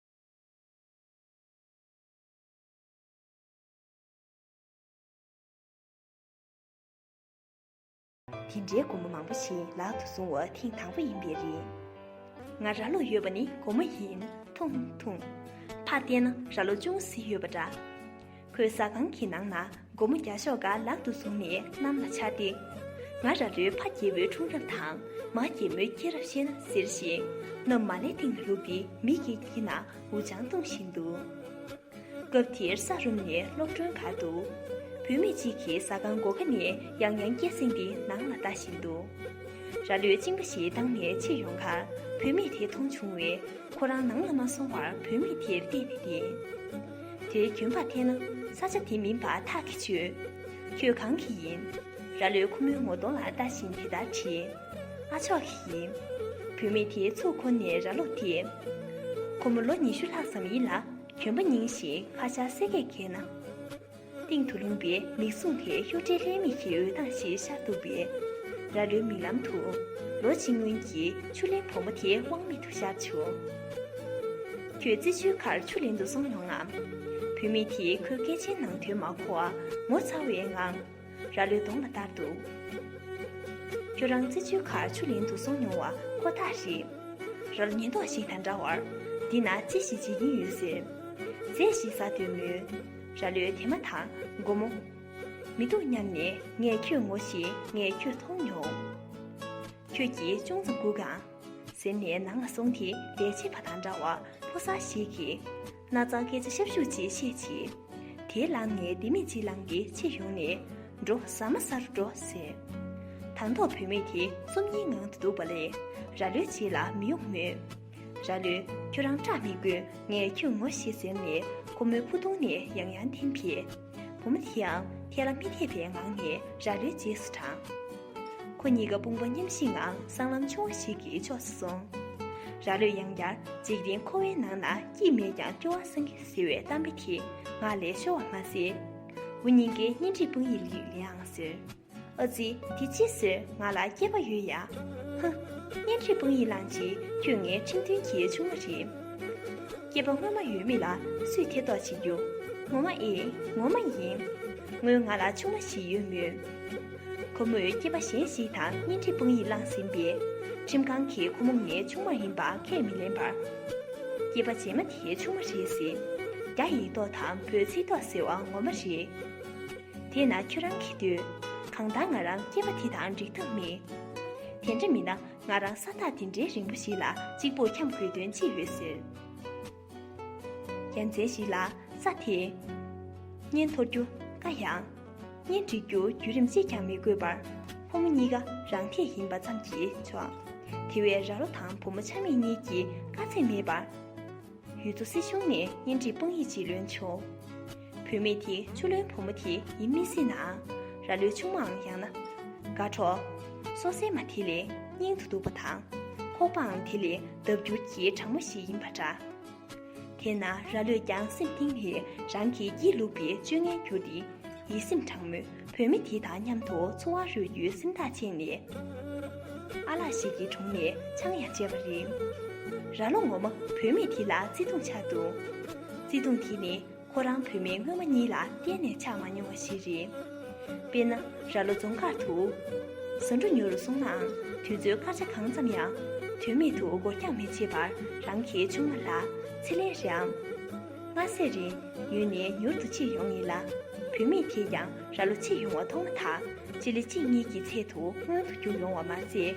དེ་འདྲའི་སྒོར་མོ་མང་པོ་ཞིག་ལག་ཏུ་བཟུང་བ་ཐེངས་དང་པོ་ཡིན་པས་རེད། ང་ར་ལོ་ཡོད་པ་ནི་སྒོར་མོ་ཡིན། ཐུང་ཐུང། ཕར་བལྟས་ན་ར་ལོ་ཅུང་ཟད་ཡོད་པ་འདྲ། ཁོས་ཟ་ཁང་གི་ནང་ན་སྒོར་མོ་བརྒྱ་ཤོག་འགའ་ལག་ཏུ་བཟུང་ནས་གནམ་ལ་འཕྱར་ཏེ། ང་ར་ལོའི་ཕ་རྒྱལ་བོའི་འཁྲུངས་རབས་དང་མ་རྒྱལ་མོའི་སྐྱེས་རབས་བཤད་ན་ཟེར་བཞིན་གནམ་མ་ལེ་སྟེང་ལ་བླུགས་ཏེ་མིག་གིས་དཀྱིལ་ན་འུར་ཆང་བཏུང་བཞིན་འདུག་སྐབས་དེར་ས་རུམ་ནས་གློག་སྒྲོན་ག་འདུག་བུད་མེད་ཅིག་གིས་ཟ་ཁང་སྒོ་ཁ་ནས་ཡང་ཡང་སྐད་གསེང་སྟེ་ནང་ལ་ལྟ་བཞིན་འདུག་ར་ལོས་གཅིན་པ་ཞིག་བཏང་ནས་ཕྱིར་ཡོང་ཁར་བུད་མེད་དེ་མཐོང་བྱུང་བས་ཁོ་རང་ནང་ལ་མ་སོང་བར་བུད་མེད་དེར་བལྟས་ནས་བསྡད། དེའི་རྒྱུན་པར་འཐེན་ན་ས་ཆ་དེ་མིན་པར་ཐག་གིས་ཆོད། ཁྱོད་གང་གི་ཡིན། ར་ལོས་ཁོ་མོའི་ངོ་གདོང་ལ་ལྟ་བཞིན་དེ་ལྟར་དྲིས། ཨ་ཆོག་གི་ཡིན། བུད་མེད་དེའི་ཚུགས་ཁོ་ནས་ར་ལོ་དེས། ཁོ་མོ་ལོ་ཉི་ཤུ་ལྷག་ཙམ་ཡིན་ལ་གྱོན་པ་རྙིང་ཞིང་ཧ་ཅང་གསལ་སྐད་རྒྱས་ན། སྟེང་དུ་ལུང་པའི་མིག་བཟུང་དེ་གཡོ་སྒྲའི་ལྷའི་མིག་གི་འོད་མདངས་ཤིག་ཤར་འདུག་པས། རྭ་ལོའི་མིག་ལམ་དུ། ལོ་གཅིག་སྔོན་གྱི་ཆུ་ལེན་བུ་མོ་དེ་དབང་མེད་དུ་ཤར་བྱུང། ཁྱོད་རྩི་ཆུའི་ཁར་ཆུ་ལེན་དུ་སོང་མྱོང་ངམ། བུད་མེད་དེས་ཁོའི་སྐད་ཆའི་ནང་དོན་མ་གོ་བར་ངོ་ཚ་བའི་ངང། རྭ་ལོའི་གདོང་ལ་བལྟར་འདུག། ཁྱོད་རང་རྩི་ཆུའི་ཁར་ཆུ་ལེན་དུ་སོང་མྱོང་བ་ཁོ་ཐག་རེད། རྭ་ལོ་ཉེན་རྟོག་ཞིག་དང་འདྲ་བར། འདི་ན་ཅི་ཞིག་བྱེད་ཀྱིན་ཡོད་ཟེར། ཟས་ཤིག་ཟ་འདོད་མོད། རྭ་ལོའི་དེ་མ་ཐག་སྒོམ་མོ། མི་འདུག་སྙམ་ནས་ངས་ཁྱོད་ངོ་ཞེས་ངས་ཁྱོད་མཐོང་མྱོང། ཁྱོད་ཀྱིས་ཅུང་ཙམ་སྒུག་གང། ཟེར་ནས་ནང་ལ་སོང་དེ་ལས་བྱེད་པ་དང་འདྲ་བ་ཕོ་གསར་ཞིག་གིས། རྣ་གཙང་སྐད་ཆ་ཤབ་ཤུབ་ཅིག་བཤད་ཅིང། དེའི་ལམ་ནས་ལྡེ་མིག་ཅིག་ལངས་ཏེ་ཕྱིར་ཡོང་ནས། འགྲོ་ཟ་མ་ཟ་རུ་འགྲོ་ཟེར། དང་ཐོག་བུད་མེད་དེ་རྩོམ་ཡིག་ངང་དུ་འདུག་པ་ལས་རྭ་ལོའི་རྗེས་ལ་མི་ཡོང་མོད། ར་ལོས། ཁྱོད་རང་སྐྲག་མི་དགོས་ངས་ཁྱོད་ངོ་ཤེས་ཟེར་ནས་ཁོ་མོའི་ཕུ་ཐུང་ནས་ཡང་ཡང་འཐེན་ཕེ། བུ་མོ་དེའང་ཐལ་ལ་མི་ཐེབས་པའི་ངང་ནས་ར་ལོའི་རྗེས་སུ་འབྲངས། ཁོ་གཉིས་ཀ་དཔུང་པ་མཉམ་བཞེས་ངང་སྲང་ལམ་ཆུང་བ་ཞིག་གི་ཕྱོགས་སུ་སོང། ར་ལོས་ཡང་བསྐྱར་འཇིག་རྟེན་འཁོར་བའི་ནང་ན་སྐྱིད་མེད་ཀྱང་སྐྱོ་བ་སངས་གི་ཟེར་བའི་གཏམ་དཔེ་དེ་ངག་ལས་ཤོར་བ་མ་ཟད། འུ་གཉིས་ཀའི་གཉེན་སྒྲིག་དཔང་ཡིག་ལེའང་ཟེར། ཨ་ཙི་དེ་ཅི་ཟེར་ང་ལ་སྐྱེས་པ་ཡོད་ཡ། ཧཧ། གཉེན་སྒྲིག་དཔང་ཡིག་བླངས་རྗེས་ཁྱོད་ངའི་ཁྲིམས་མཐུན་གྱི་ཆུང་མ་རེད། སྐྱེས་པ་སྔོན་མ་ཡོད་མེད་ལ་སུས་ཐེ་གཏོགས་བྱེད་རྒྱུ། ངོ་མ་ཨེ། ངོ་མ་ཡིན། སྔོན་ང་ལ་ཆུང་མ་ཞིག་ཡོད་མོད། ཁོ་མོས་སྐྱེས་པ་གཞན་ཞིག་དང་གཉེན་སྒྲིག་དཔང་ཡིག་བླངས་ཟིན་པས། ཁྲིམས་ཁང་གིས་ཁོ་མོ་ངའི་ཆུང་མ་ཡིན་པ་ཁས་མི་ལེན་པར། སྐྱེས་པ་རྗེས་མ་དེའི་ཆུང་མ་རེད་ཟེར། རྒྱ་ཡིག་ཏོག་དང་བོད་ཚིག་ཏོག་ཟེར་བ་ངོ་མ་རེད། དེས་ན་ཁྱོད་རང་གིས་འདོད། གང་ལྟར་ང་རང་སྐྱེས་པ་དེ་དང་འགྲིག་ཐབས་མེད། དེ་འདྲ་མིན་ན་ང་རང་ས་ཐག་དེ་འདྲའི་རིང་པོ་ཞིག་ལ་གཅིག་པུར་འཁྱམས་དགོས་དོན་ཅི་ཡོད་ཟེར། རྒྱལ་མཚན་ཞིག་ལ་ས་དེས། གཉེན་འཐོར་རྒྱུ་དཀའ་ཡང། གཉེན་སྒྲིག་རྒྱུ་བརྒྱུད་རིམ་གཅིག་ཀྱང་མི་དགོས་པར། ཕོ་མོ་གཉིས་ཀ་རང་འཐད་ཡིན་པ་ཙམ་གྱིས་ཆོག། དེ་བས་ར་ལོ་དང་བུ་མོ་ཆ་མེད་གཉིས་ཀྱིས་དཀའ་ཚེགས་མེད་པར། ཡུལ་དུ་སྲིད་གཞུང་ནས་གཉེན་སྒྲིག་དཔང་ཡིག་ཅིག་ལོན་བྱུང། བུད་མེད་དེ་ཆུ་ལོན་བུ་མོ་དེ་ཡིན་མི་སྲིད་ནའང་ར་ལོའི་ཆུང་མའང་ཡང་ན། དགའ་གྲོགས། སོ་སྲན་མ་དེ་ལས་སྙིང་དུ་སྡུག་པ་དང། ཁོག་པའང་དེ་ལས་ལྡབ་འགྱུར་གྱིས་དྲང་མོ་ཞིག་ཡིན་པ་འདྲ། དེས་ན་ར་ལོས་ཀྱང་སེམས་གཏིང་ནས་རང་གི་སྐྱིད་ལུག་པའི་སྤྱོད་ངན་བསྒྱུར་ཏེ་ཡིད་སེམས་དྲང་མོས་བོད་མི་དེ་དང་མཉམ་དུ་འཚོ་བ་རོལ་རྒྱུའི་སེམས་ཐག་བཅད་ནས། ཨ་ལགས་ཤིག་གི་དྲུང་ནས་ཆང་ཡང་བཅད་པ་རེད། ར་ལོ་ངོ་མ་བོད་མི་དེ་ལ་བརྩེ་དུང་ཆགས་འདུག་བརྩེ་དུང་དེ་ནི་ཁོ་རང་བོད་མི་སྔོན་མ་གཉིས་ལ་གཏན་ནས་ཆགས་མ་མྱོང་བ་ཞིག་རེད། དཔེར་ན་ར་ལོ་རྫོང་མཁར་དུ། ཟ་འབྲུ་ཉོ་རུ་སོང་ནའང་དུས་ཚོད་སྐར་ཆ་གང་ཙམ་ཡང་དོན་མེད་དུ་འགོར་འགྱངས་མི་བྱེད་པར་རང་གི་ཆུང་མ་ལ་ཚེ་ལས་རེའམ། ངྷ་སའི་རི་ཡུལ་ནས་མྱུར་དུ་ཕྱིར་ཡོང་ངེས་ལ། བུད་མེད་དེས་ཀྱང་ར་ལོ་ཕྱིར་ཡོང་བ་མཐོང་མ་ཐག་སྤྱི་ལེ་གཅིག་གཉིས་ཀྱི་ཚད་དུ་སྔོན་དུ་བསྐྱུར་ཡོང་བ་མ་ཟད།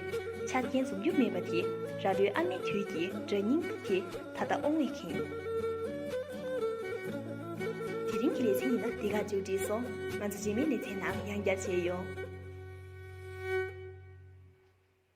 ཆ་རྐྱེན་འཛོམས་རྒྱུ་མེད་པ་དེ་ར་ལོའི་ཨ་མའི་དུས་ཀྱི་སྒྲ་སྙིང་པོ་དེ་ད་ལྟ་ཨོང་བས་ཁེངས། དེ་རིང་གི་ལེ་ཚན་ཡིན་ན་འདི་ག་མཇུག་བསྒྲིལ་སོང་ང་ཚོ་རྗེས་མའི་ལེ་ཚན་ནང་ཡང་བསྐྱར་མཇལ་ཡོང།